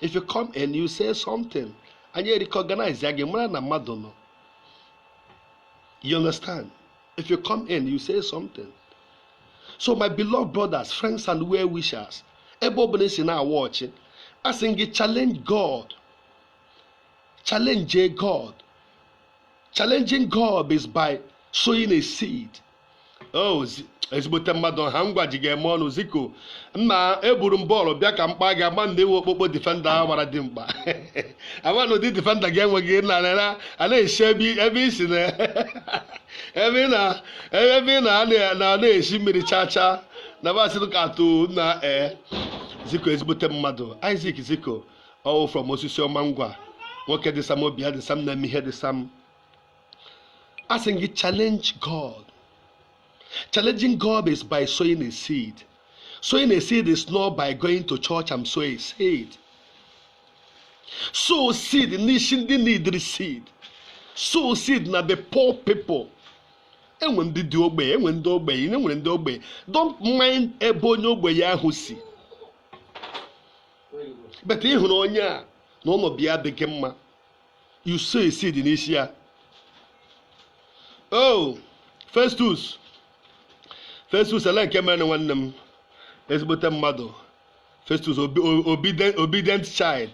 if you come in you say something anyị recognize ya gị mara na mmadụ nọ you understand if you come in you say something so my beloved brothers friends and well wishers ebe ọ bụla i si na-awatch asị m gị challenge God challenge God challenging God is by sowing a seed oh ezigbote mmadụ ọha ngwa ji ga-eme ọnụ ziko mma eburu m bọọlụ bịa ka m kpaa gị ama na i nwe okpokpo defender a gbara dị mkpa ama na ụdị defender gị enweghị na a na-esi ebe isi na ebe ị na ebe ebe ị na- na- na-esi mmiri chaa chaa na basịrị ka atụ na ee ziko ezigbote mmadụ Isaac ziko ọ wụ from Osisioma Ngwa nwoke dị sam obi ya dị sam na-eme ihe dị sam asị m gị challenge God challenging God is by sowing a seed sowing a seed is not by going to church and sow a seed sow seed n'isi ndị needịrị seed sow seed na the poor people enwere ndị dị ogbenye enwere ndị ogbenye enwere ndị ogbenye don't mind ebe onye ogbenye ahụ si but ị hụrụ onye a na ọnọdụ ya adịghị mma you sow a seed n'isi ya oh festus festus ele nke mere nwanne m ezigbote mmadụ Festus obedient child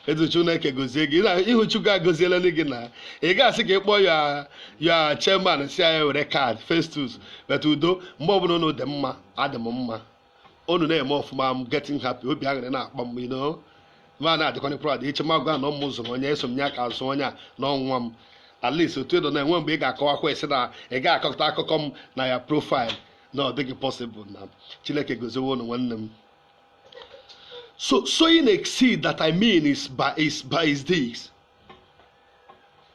eze Chineke gozie gị ihu Chukwu agọziela gị na ị ga-asị ka ị kpọọ ya ya chairman sị anyị were card Festus bata udo mgbe ọbụla unu dị mma adị m mma unu na-eme ọfụma m getting happy obi aṅụrị na-akpa m ino ma na-adịkwana proud eche m agwa na ụmụ ụzọ onye eso m ya ka azụ onye a na ọnwa m at least otu edo na-enwe mgbe ị ga-akọwakwa esi na ị ga-akọta akụkọ m na ya profile na ọ dịghị possible na chineke goziwo unu nwanne m so sowing a seed that i mean is by is by is this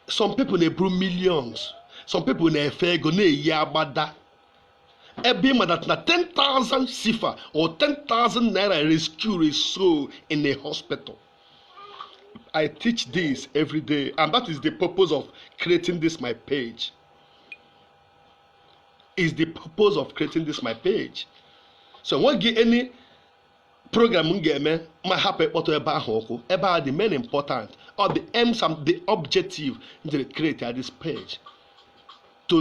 some people na-eburu millions some people na-efe ego na-eyi agbada ebe ị ma that na 10,000 CFA or 10,000 naira rescue a soul in a hospital I teach this every day, and that is the purpose of creating this my page. is the purpose of creating this my page so o nweghị any program m ga-eme ma hapụ ịkpọtụ ebe ahụ ụkwụ ebe a the main important or the aims and the objective to create this page to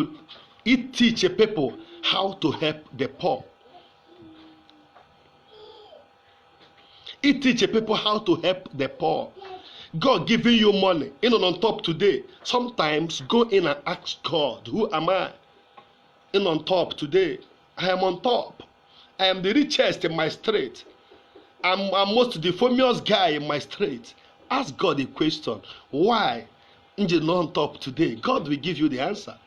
teach people how to help the poor i teach people how to help the poor God giving you money ịnọ on top today sometimes go in and ask God who am I ịnọ on top today I am on top I am the richest in my street I'm, I'm most the famous guy in my street ask God a question why nje nọ on top today God will give you the answer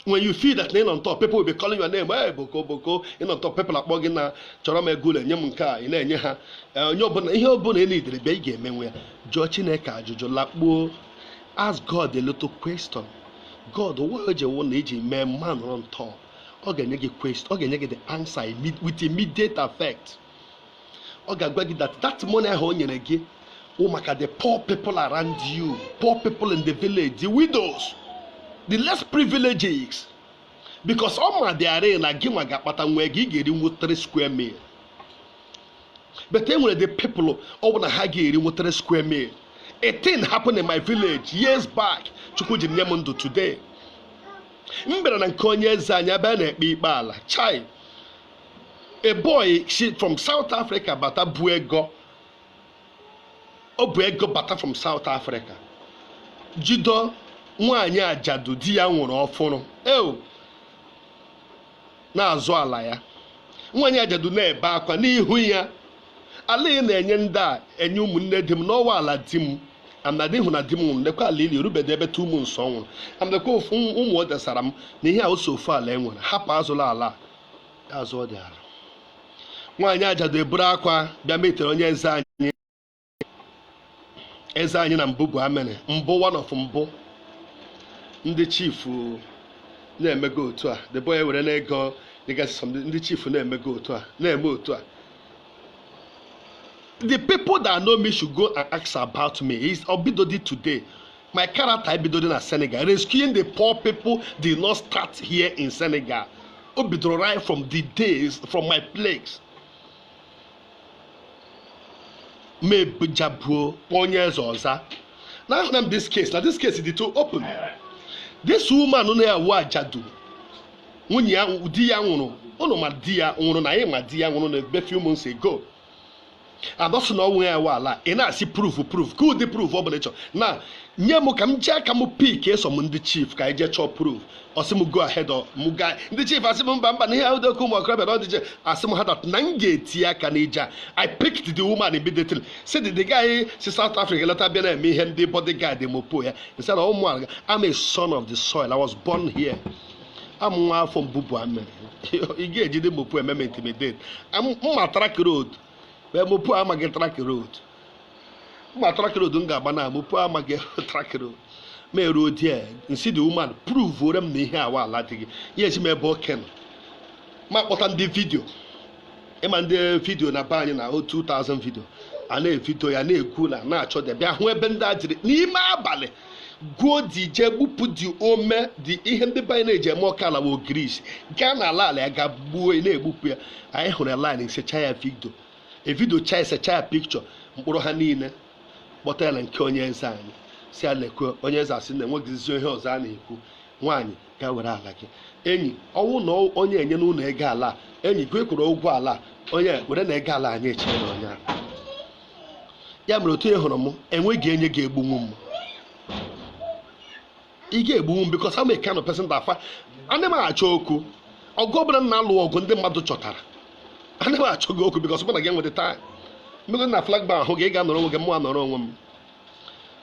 when you feel that na ị nọ on top people will be calling your name ee boko boko ị nọ on top people akpọ gị na chọrọ m ego ole nye m nke a ị na-enye ha Eh, onye ọbụla ihe ọbụla e needịrị bịa ị ga-emewe ya jụọ chineke ajụjụ lakpuo ask god a little question god why o ji wụ na i ji mee m anọrọ on top ọ ga-enye gị question ọ ga-enye gị the answer imme- with immediate effect ọ ga-agwa gị that that money ahụ o nyere gị wụ maka the poor people around you poor people in the village the widows the less privileges because ọ madịarị na gị nwa ga-akpatanwu ihe gị ị ga-erinwu 3 square meal but e nwere the people ọ bụ na ha ga-erinwu 3 square meal a thing happened in my village years back chukwu ji nye m ndụ today m bịara na nke onye eze anyị a bịa na-ekpe ikpe ala chai a boy si from South Africa bata bu ego o bu ego bata from South Africa jido nwaanyị ajadu di ya nwụrụ ọfụrụ eo na-azụ ala ya nwaanyị ajadu na-ebe akwa n'ihu ya ala ị na-enye ndị a enye ụmụnne di m na ọ wụ ala di m amnadị hụ na di m nwụrụ lekwa ala ili o rubede ebe 2 months ọ nwụrụ amlekwa ụmụ o desara m na ihe a ọ sọ ofu ala e nwere hapụ azụla ala a azụ ọ dị ala nwaanyị ajadu eburu akwa bịa meetere onye eze anyị eze anyị na mbụ bụ amene m bụ one of mbụ ndị chifu na-emego otu a the boy were na-ego dịgasị some ndị chifu na-emego otu a na-eme otu a the people that know me should go and ask about me is o bidodị today my character ebidodị na senegal rescuing the poor people did not start here in senegal o bidoro right from the days from my place mebujabuo onye eze ọza na ahụ na m this case na this case dị too open this woman na ya wụ ajadu nwunye ya di ya nwụrụ unu ma di ya nwụrụ na anyị ma di ya nwụrụ na ebe few months ago adọsị na ọ wụ ya nwe ala ị na-asị proof proof ka ụdị proof ọ bụla ị chọ na nye m ka m jee aka m pick eso m ndị chief ka anyị jee chọọ proof ọ sị m go ahead m ga ndị chief asị m mba mba na ihe ahụ dị oke ụmụ okorobịa na ọdịje asị m ha that na m ga-etinye aka n'ija i picked the woman immediately si the guy si South Africa lọta bịa na-eme ihe ndị bodyguard mopol ya nsị na ụmụ ala I'm a son of the soil I was born here a wụ m nwa afọ Mbubu Amiri ị ga-ejide mopol eme m intimidate m ma track road where mopol amaghị track road m ma track road m ga-agba na mopol amaghị track road m eruo there m sị the woman proveore m na ihe a wụ ala di gị ya ezi m ebe oke nọ mụ akpọta ndị video ị ma ndị video na be anyị na 2000 video a na-evideo ya na-ekwu na na-achọ dị bịa hụ ebe ndị a jiri n'ime abalị go there jee gbupụ the ome the ihe ndị be anyị na-eji eme oke ala bụ ogirisi gaa na ala ala ya ga gbuo na-egbupụ ya anyị hụrụ ya line secha ya video evideocha esecha ya picture mkpụrụ ha niile kpọta ya na nke onye eze anyị sị ya lekwe onye eze asị na enweghịzi ihe ọzọ a na-ekwu nwaanyị gaa were ala gị enyi ọ wụ na onye enye na ụlọ ego ala enyi gị kwụrụ ụgwọ ala onye were na ego ala nyechiere onye ya mere otu ị hụrụ m enweghị onye ga-egbunwu m ị ga-egbunwu m because I'm a kind of person that ana m achọ okwu ọgụ ọbụla m na-alụ ọgụ ndị mmadụ chọtara ana m achọ gị okwu because mụ na gị enweta taa mmego na flagba ahụ gị ị ga-anọrọ onwe gị mụ anọrọ onwe m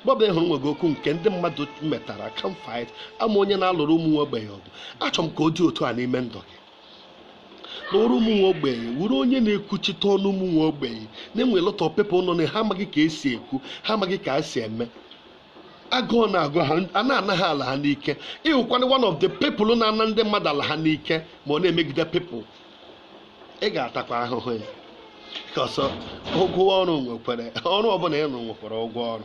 but ị hụrụ nwe gị okwu nke ndị mmadụ metara ka m fight I am onye na-alụrụ ụmụ nwa ogbenye ọgụ achọrọ m ka ọ dị otu a n'ime ndụ gị n'ọrụ ụmụ nwa ogbenye wụrụ onye na-ekwuchite ọnụ ụmụ nwa ogbenye na enwe lot of people nọ na ha amaghị ka esi ekwu ha amaghị ka esi eme agụụ na-agụ ha a na-ana ha ala ha n'ike ị wụkwara one of the people na-ana ndị mmadụ ala ha n'ike ma ọ na-emegide people ị ga-atakwa ahụhụ ya cos ụgwọ ọrụ nwekwara ọrụ ọbụla ị rụ nwekwara ụgwọ ọrụ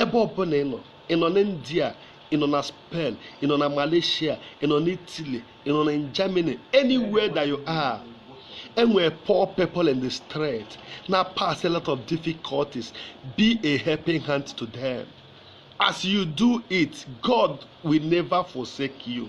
ebe ọbụla ị nọ ị nọ na india ị nọ na spain ị nọ na malaysia ị nọ na italy ị nọ na germany anywhere that you are enwere poor people in the street na pass a lot of difficulties be a helping hand to them as you do it god will never forsake you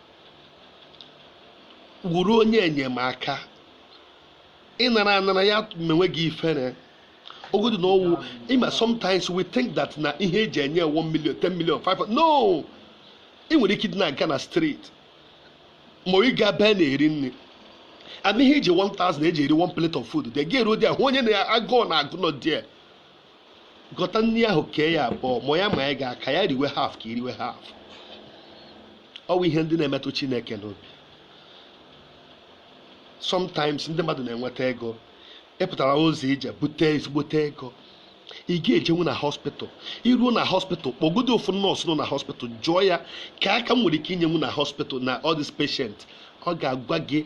wụrụ onye enyemaka ị nara anara ya menwe gị ifere ogodu na ọ wụ ị ma sometimes we think that na ihe eji enye 1 million 10 million 5 million no ị nwere ike dị na-aga na street ma ị ga ebe a na-eri nri and ihe ị ji 1000 eji eri one plate of food ị ga-eru there hụ onye na agụụ na-agụ nọ there gọta nri ahụ kee ya abụọ ma ya ma ya ga aka ya riwe half ka i riwe half ọ bụ ihe ndị na-emetụ chineke n'obi sometimes ndị mmadụ na-enweta ego ị pụtara ụzọ ije bute ezigbote ego ị ga-ejenwu na hospital i ruo na hospital kpọgodo ofu nurse nọ na hospital jụọ ya kee aka m nwere ike inyenwu na hospital na all this patient ọ ga-agwa gị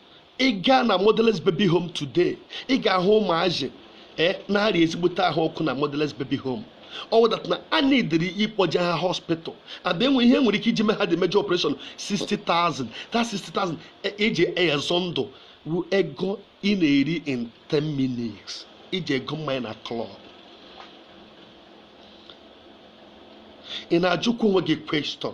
ị gaa na motherless baby home today ị ga-ahụ ụmụazị e, na-arịa ezigbote ahụ ọkụ na motherless baby home ọ wụ that na a needịrị ịkpọje ha hospital and enwe ihe e nwere ike iji mee ha the major operation 60,000 that 60,000 eji ezọ ndụ wu ego ị na-eri in 10 minutes iji ego mmanya na club ị na-ajụkwa onwe gị question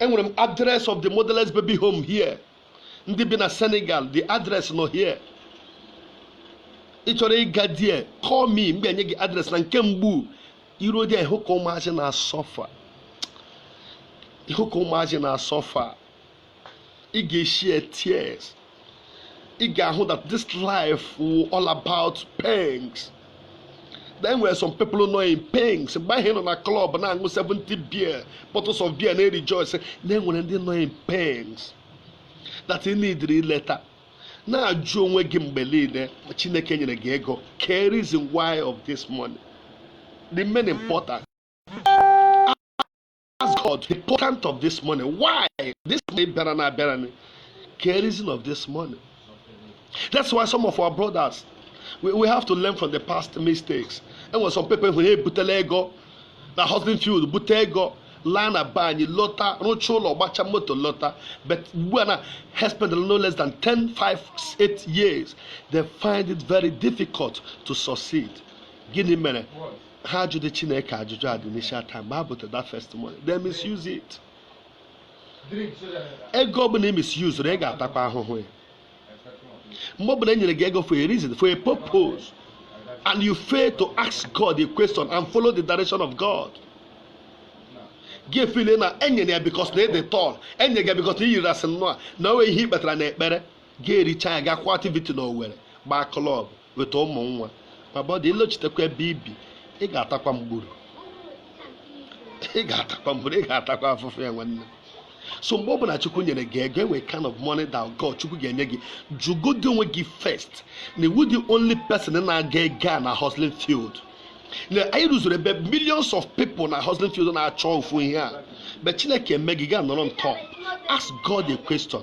enwere m address of the motherless baby home here ndị bi na senegal the address nọ here ị chọrọ ịga there call me m ga-enye gị address na nke mbour i ruo there ị hụ ka ụmụazị na-asuffer ị hụ ka ụmụazị na-asuffer ị ga-eshare tears ị ga-ahụ that this life wụ all about pangs na enwere some people nọ in pangs mgbe ahụ ị nọ na club na-aṅụ 70 beer bottles of beer na-rejoice na enwere ndị nọ in pangs that ị needịrị ileta na-ajụ onwe gị mgbe niile chineke nyere gị ego kee reason why of this money the main important ask God the importance of this money why this money bịara na abịara ni kee reason of this money that's why some of our brothers we, we have to learn from the past mistakes enwere some people wụ ha ebutela ego na hustling field bute ego laa na be anyị lọta rụchaa ụlọ gbacha moto lọta but ugbu a na ha spend no less than 10 5 8 years they find it very difficult to succeed gịnị mere ha ajụdị chineke ajụjụ at the initial time mgbe ha butara that first money they misuse it ego ọbụla ị misuse ị ga-atakwa ahụhụ ya mgbe ọbụla e nyere gị ego for a reason for a purpose and you fail to ask God a question and follow the direction of God gị efeele na enyere ya because na ị dị tall enye gị because na iyiri asị nnọọ na onwe ihe ị kpatara na ekpere gị ericha ya gakwa activity na owerri gbaa club weta ụmụ nwa ma but ị lọchitekwa ebe i bi ị ga-atakwa mgburu ị ga-atakwa mgburu ị ga-atakwa afụfụ ya nwanne so mgbe ọ bụla chukwu nyere gị ego enwe kind of money that God chukwu ga-enye gị jụgodi onwe gị first na ị wụ the only person na-aga ego na hustling field na anyị rụzuru ebe millions of people na hustling field na-achọ ofu ihe a but chineke mee gị gaa nọrọ on top ask God a question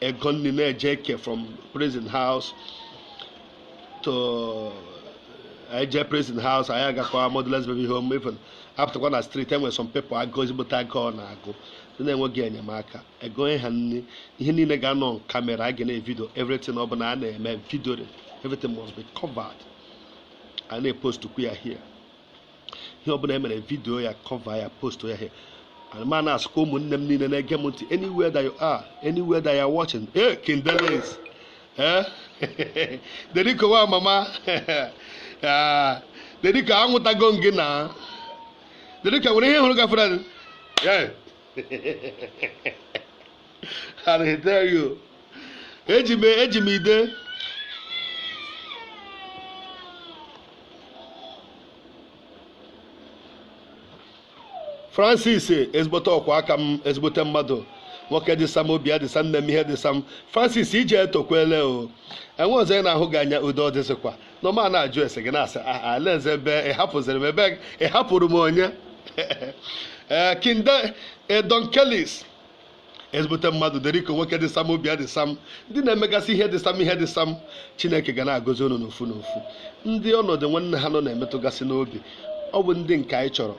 ego nri na-eje eke from prison house to eje prison house anyị agakwa motherless baby home even apụtakwa na street e nwere some people agụụ ezigbote agụụ na-agụ ndị na-enweghị enyemaka ego ha nri ihe niile ga-anọ camera a ga na-evideo everything ọ bụla a na-eme video everything must be covered a na-epost kwa ya here ihe ọbụla e mere video ya cover ya post ya here ma na-asụkwa ụmụnne m niile na-ege m ntị anywhere that you are anywhere that you are watching ee kindeleis ee deriko nwa mama deriko anwụtago m gị na deriko nwere ihe hụrụ gafere and he tell you eji m eji m ide francis ezigbote ọkwa aka m ezigbote mmadụ nwoke dị sam obi ya dị sam na-eme ihe dị sam francis ije etokwele o enwe ọzọ ị na-ahụ gị anya udo dịzịkwa anọ m na-ajụ ese gị na-asị ah ah oleezi ebe ị hapụziri m ebe ị hapụrụ m onye ee kinde edonkelis ezigbote mmadụ deriko nwoke dị sam obi adị sam ndị na-emegasị ihe dị sam ihe dị sam chineke ga na-agọzi unu n'ofu n'ofu ndị ọnọdụ nwanne ha nọ na-emetụgasị n'obi ọ bụ ndị nke anyị chọrọ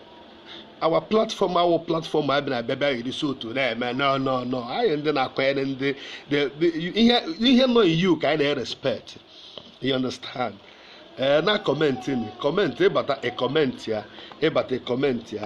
our platform awụ platform a bịara abịa bịa erisi otu na-eme no no no anyị ndị na-akwanyere ndị ihe nọ ugwu ka anyị na-erespect you understand ee eh, na comment comment ị bata ị commentịa ị bata ị commentịa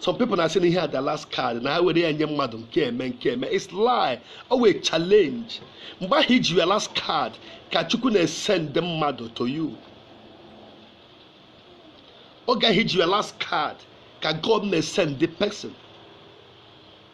some people na-asị na ihe a the last card na ha were ya nye mmadụ nke eme nke eme it's lie ọ wụ a challenge mgbe ahụ i ji your last card ka chukwu na-esend mmadụ to you oge ahụ i ji your last card ka god na-esend the person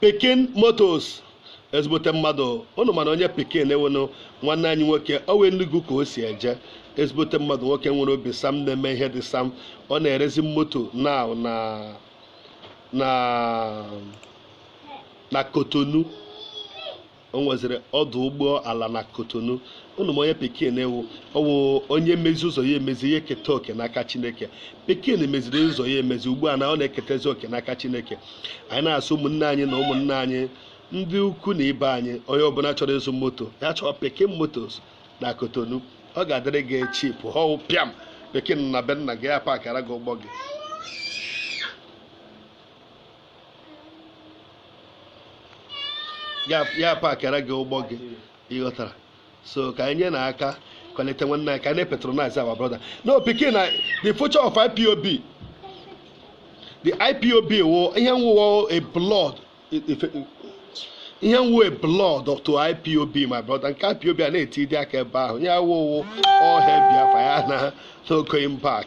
pikin motors ezigbote mmadụ ụnụ manụ onye pikin wụ nụ nwanne anyị nwoke ọ wụ enugu ka o si eje ezigbote mmadụ nwoke nwere obi sam na-eme ihe dị sam ọ na-erezi moto na na na na kotonu o nweziri ọdụ ụgbọ ala na kotonu ụnụ ma onye pikin wụ ọ wụ onye mezie ụzọ ya emezi ya eketa oke n'aka chineke pikin meziri ụzọ ya emezi ugbu a na ọ na-eketezi oke n'aka chineke anyị na-asụ ụmụnne anyị na ụmụnne anyị ndị ikwu na ibe anyị onye ọbụla chọrọ ịzụ moto ya chọọ pikin motors na kotonu ọ ga-adịrị gị cheap ọ wụ pịam pikin na be nna gị ya pakara gị ụgbọ gị ya ya pakịara gị ụgbọ gị ị ghọtara so ka anyị nye na aka kwalite nwanne anyị ka anyị na-apatronize our brother no pikin na the future of ipob the ipob wụ ihe nwụwa a blood ihe nwụwa a blood to ipob my brother nke ipob a na-eti dị aka ebe ahụ ya wụwụ ọhịa biafra ya na no going back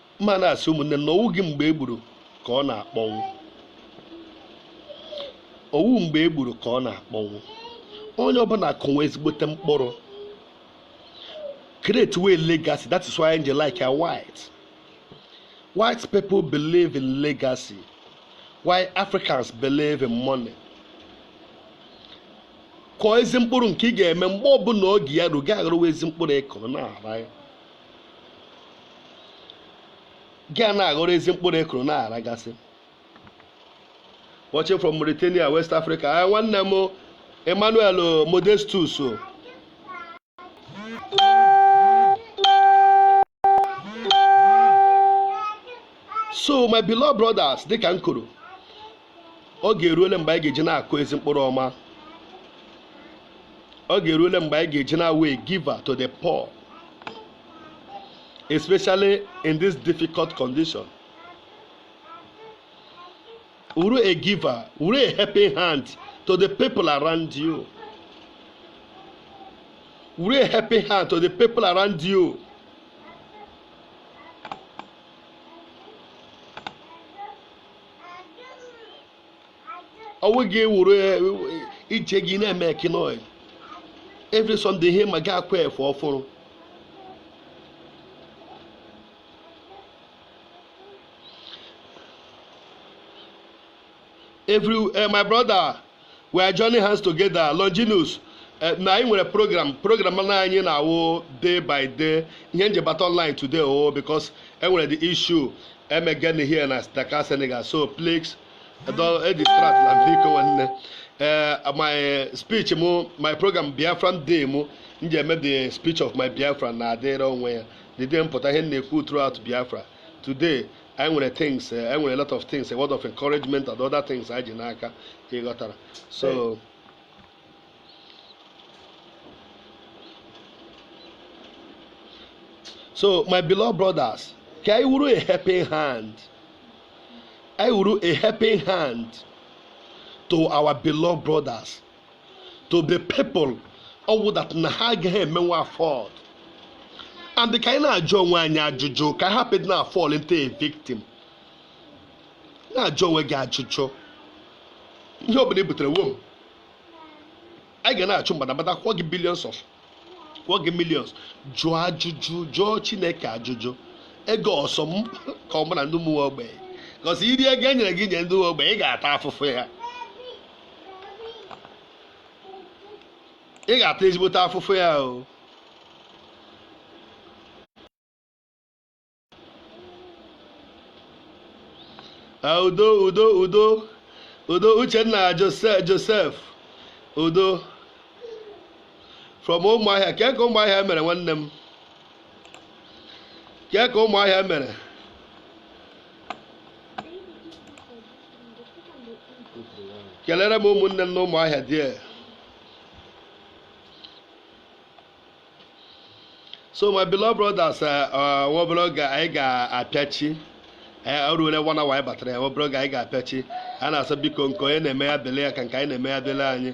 mma na-asị ụmụnne na ọ wụghị mgbe e gburu ka ọ na-akpọnwụ ọ wụ mgbe e gburu ka ọ na-akpọnwụ onye ọbụla kụwa ezigbote mkpụrụ create way legacy that is why I like ya white white people believe in legacy while Africans believe in money kọọ ezi mkpụrụ nke ị ga-eme mgbe ọbụla oge ya ruo gị aghọrọwa ezi mkpụrụ ị kụrụ na-ara ya gị a na-aghọrọ ezi mkpụrụ ị kụrụ na-aragasị watching from Mauritania West Africa ah, nwanne m Emmanuel Modestus so my beloved brothers dịka m kwuru oge eruole mgbe anyị ga-eji na-akụ ezi mkpụrụ ọma oge eruole mgbe anyị ga-eji na-awụ a giver to the poor especially in this difficult condition wụrụ a giver wụrụ a helping hand to the people around you wụrụ a helping hand to the people around you ọ wụghị wụrụ ije gị na-eme kinoi every Sunday ihe ma gị akwa efe ọfụrụ every eh, my brother we are joining hands together Longinus eh, na anyị nwere program program na anyị na-awụ day by day ihe m ji bata online today o oh, because e nwere the issue emegen eh, here na Dakar Senegal so please edistract eh, na biko nwanne ee my speech mụ my program Biafran day mụ m ji eme the speech of my Biafra na-adịrị onwe ya the day m pụta ihe m na-ekwu throughout Biafra today anyị nwere things eh, anyị nwere a lot of things a word of encouragement and other things anyị ji n'aka ị ghọtara so so my beloved brothers ka anyị wụrụ a helping hand anyị wụrụ a helping hand to our beloved brothers to the people ọ wụ that na ha agaghị emenwe afford and ka anyị na-ajụ onwe anyị ajụjụ ka anyị hapụ ịdị na fall into a victim na-ajụ onwe gị ajụjụ ihe ọbụla i butere wom anyị ga na-achụ mgbadamgbada kwụọ gị billions of kwụọ gị millions jụọ ajụjụ jụọ chineke ajụjụ ego ọ sọ m ka ọ mụ na ndị ụmụ ogbenye because i rie ego e nyere gị nye ndị ogbenye ị ga-ata afụfụ ya ị ga-ata ezigbote afụfụ ya o ah, udo udo udo udo uchenna joseph udo from ụmụahịa kee ka ụmụahịa mere nwanne m kee ka ụmụahịa mere kelere m ụmụnne m na ụmụahịa there so my beloved brothers eh, eh, nwa obere oge anyị ga-apịachi eh, o ruole one hour anyị batara ya nwa obere oge anyị ga-apịachi a na-asọ biko nke onye na-eme ya bele ya ka nke anyị na-eme ya bele anyị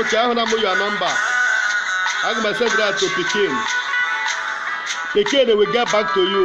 oke ahụ na mụ your number aga m send that to pikin pikin will get back to you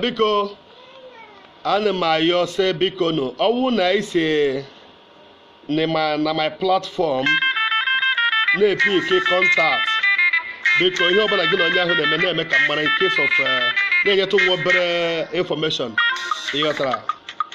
biko ana m ayọ sị bikonụ ọ wụ na i si na my platform na-epick contact biko ihe ọbụla gị na onye ahụ na-eme na-eme ka m mara in case of eh, na-enyetụ nwa obere information ị ghọtara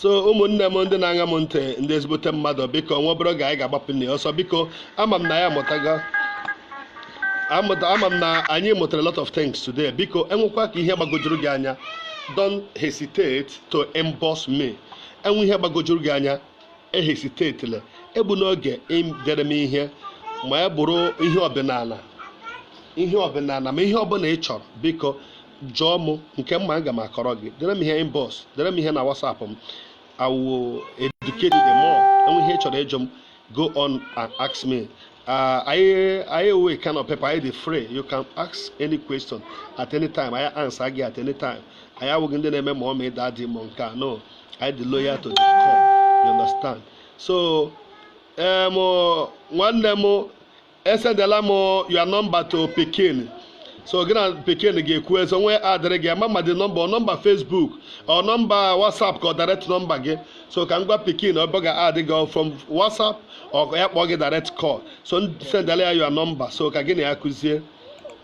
so ụmụnne m ndị na-aṅa m ntị ndị ezigbote mmadụ biko nwa obere oge anyị ga-agbapụ n'ọsọ biko ama m na anyị amụtago amụta ama m na anyị mụtara a lot of things today biko e nwekwa ka ihe gbagojuru gị anya don't hesitate to inbox me e nwee ihe gbagojuru gị anya ehesitatele egbuna oge dere m ihe ma ya bụrụ ihe ọdịnala ihe ọdịnala ma ihe ọbụla ị chọrọ biko jụọ m nke m ma aga m akọrọ gị dere m ihe inbox dere m ihe na WhatsApp m I will educate you the more e nwee ihe ị chọrọ ịjụ m go on and ask me uh, anyị wụ kind of people anyị dị free you can ask any question at any time anyị answer gị at any time anyị awụghị ndị na-eme mummy daddy ma nke a no anyị dị loyal to the core you understand so em nwanne m esendela m your number to pikin so gị na pikin ga-ekwu eso nwee adịrị gị ama ma the number ọ number Facebook ọ number WhatsApp ka ọ direct number gị so ka m gwa pikin ọ bụ ya add gị from WhatsApp ọ ya kpọọ gị direct call so sendela ya your number so ka gị na ya kwuzie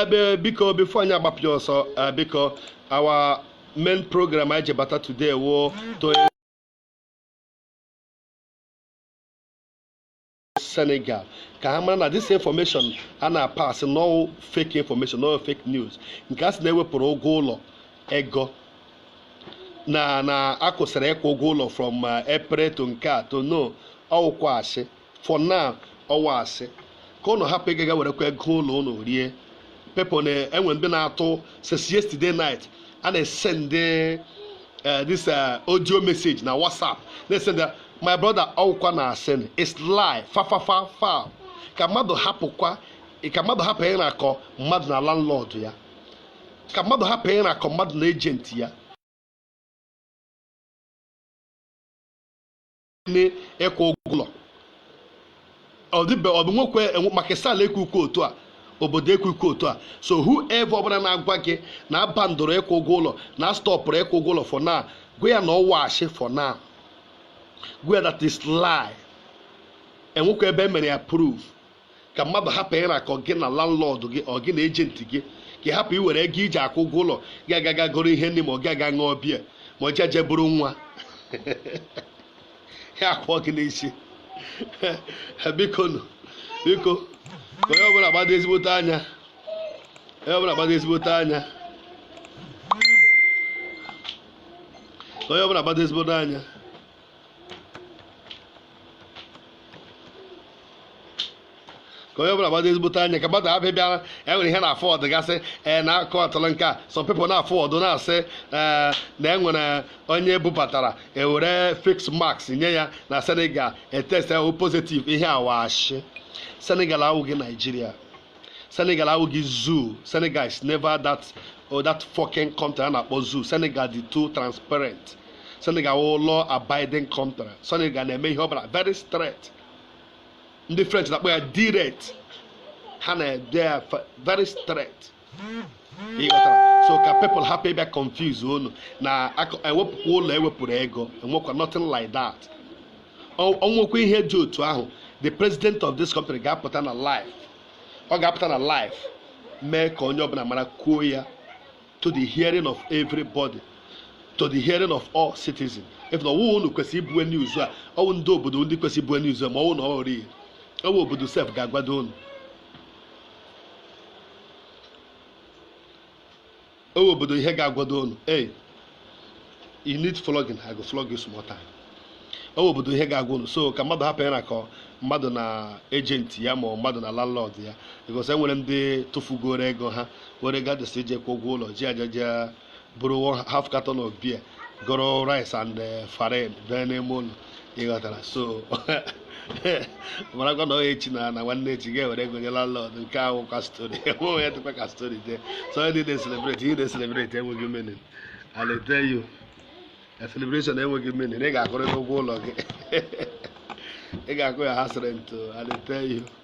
ebe biko before anyị agbapụ ya ọsọ eh, biko our main program anyị ji bata today wụ to senegal ka ha mara na this information a na-apass na ọwụ fake information na ọwụ fake news nke a sị na-ewepụrụ ụgwọ ụlọ ego na na akwụsịrị ịkwụ ụgwọ ụlọ from eh, april to nke a to na ọwụkwa asị for now ọwụ asị ka ụnụ hapụ ịgaga werekwa ego ụlọ ụnụ rie people na enwe ndị na-atụ since yesterday night a na-esend eh, this eh, audio message na whatsapp na-esend my brother ọwụkwa na asị na it's lie fafafa fa ka mmadụ hapụkwa ka mmadụ hapụ ịrakọ mmadụ na landlord ya ka mmadụ hapụ ịrakọ mmadụ na agent ya n'ime ịkwụ ụgwọ ụlọ ọ dịbe ọ bụ nwekwe enwe- Macky Sall ekwukwa otu a obodo ekwukwa otu a so whoever ọbụla na-agwa gị na abandụrụ ịkwụ ụgwọ ụlọ na astọpụrụ ịkwụ ụgwọ ụlọ for now gwa ya na ọwụ ashị for now gwa ya that is lie enwekwa ebe e mere ya approve ka mmadụ hapụ ịrakọ gị na landlord gị or gị na agent gị ka ị hapụ iwere ego iji akwụ ụgwọ ụlọ gị agaga goro ihe nri ma ọ gị aga ṅụọ biya ma ọ jeje buru nwanyị akwụọ gị n'isi bikonụ biko ka onye ọbụla gbado ezigbote anya onye ọbụla gbado ezigbote anya ka onye ọbụla gbado ezigbote anya ka onye ọbụla gbado ezigbote anya ka mmadụ abịa bịara enwere ihe na-aforward gasị ee na akụ atụrụ nke a some people na-aforward na-asị ee na enwere onye bubatara ewere face mask nye ya na senegal etest ọwụ positive ihe a wụ ashị senegal awụghị nigeria senegal awụghị zoo senegal is never that or oh, that fucking country a na-akpọ zoo senegal dị too transparent senegal wụ law abiding country senegal na-eme ihe ọbụla very straight ndị french na-akpọ ya direct ha na-ede ya very straight so ka people hapụ ịbịa confuse unu na ewepụkwa ụlọ ewepụrụ ego enwekwa nothing like that o nwekwa ihe dị otu ahụ the president of this country ga-apụta na live ọ ga-apụta na live mee ka onye ọbụla mara kwuo ya to the hearing of everybody to the hearing of all citizens if na ọwụwa unu kwesịrị ibue news a ọwụ ndị obodo ndị kwesịrị ibue news a ma ọwụ na ọwụ real ọwụ obodo sef ga-agwado unu ọ wụ obodo ihe ga-agwado unu hey you need flogging i go flog you small time ọ wụ obodo ihe ga-agwa unu so ka mmadụ hapụ ya na ka mmadụ na agent ya ma mmadụ na landlord ya because enwere ndị tụfugoro ego ha were gadis ije kwụ ụgwọ ụlọ ji ya je buru half carton of beer goro rice and eh, farin bịa n'ime ụlọ ịghọtara so marakwa na onye echi na nwanne echi ga-ewere ego nye landlord nke ahụ kwa story enwe onye dịkwa ka story jee so ndị na-eselebreti ihe na-eselebreti enweghị meaning and I tell you a celebration enweghị meaning ị ga-akwụrịta ụgwọ ụlọ gị ị ga-akwụ ya house rent and I tell you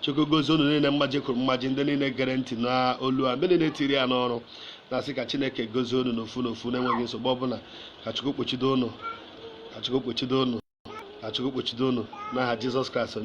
Chukwu gozie unu niile mmaji kwuru mmaji ndị niile gere ntị n'olu a ndị niile tiri ya n'ọrụ na-asị ka Chineke gozie unu n'ofu n'ofu na-enweghị nsogbu ọbụla ka Chukwu kpuchido unu ka Chukwu kpuchido unu ka Chukwu kpuchido unu n'aha Jizọs Kraịst onye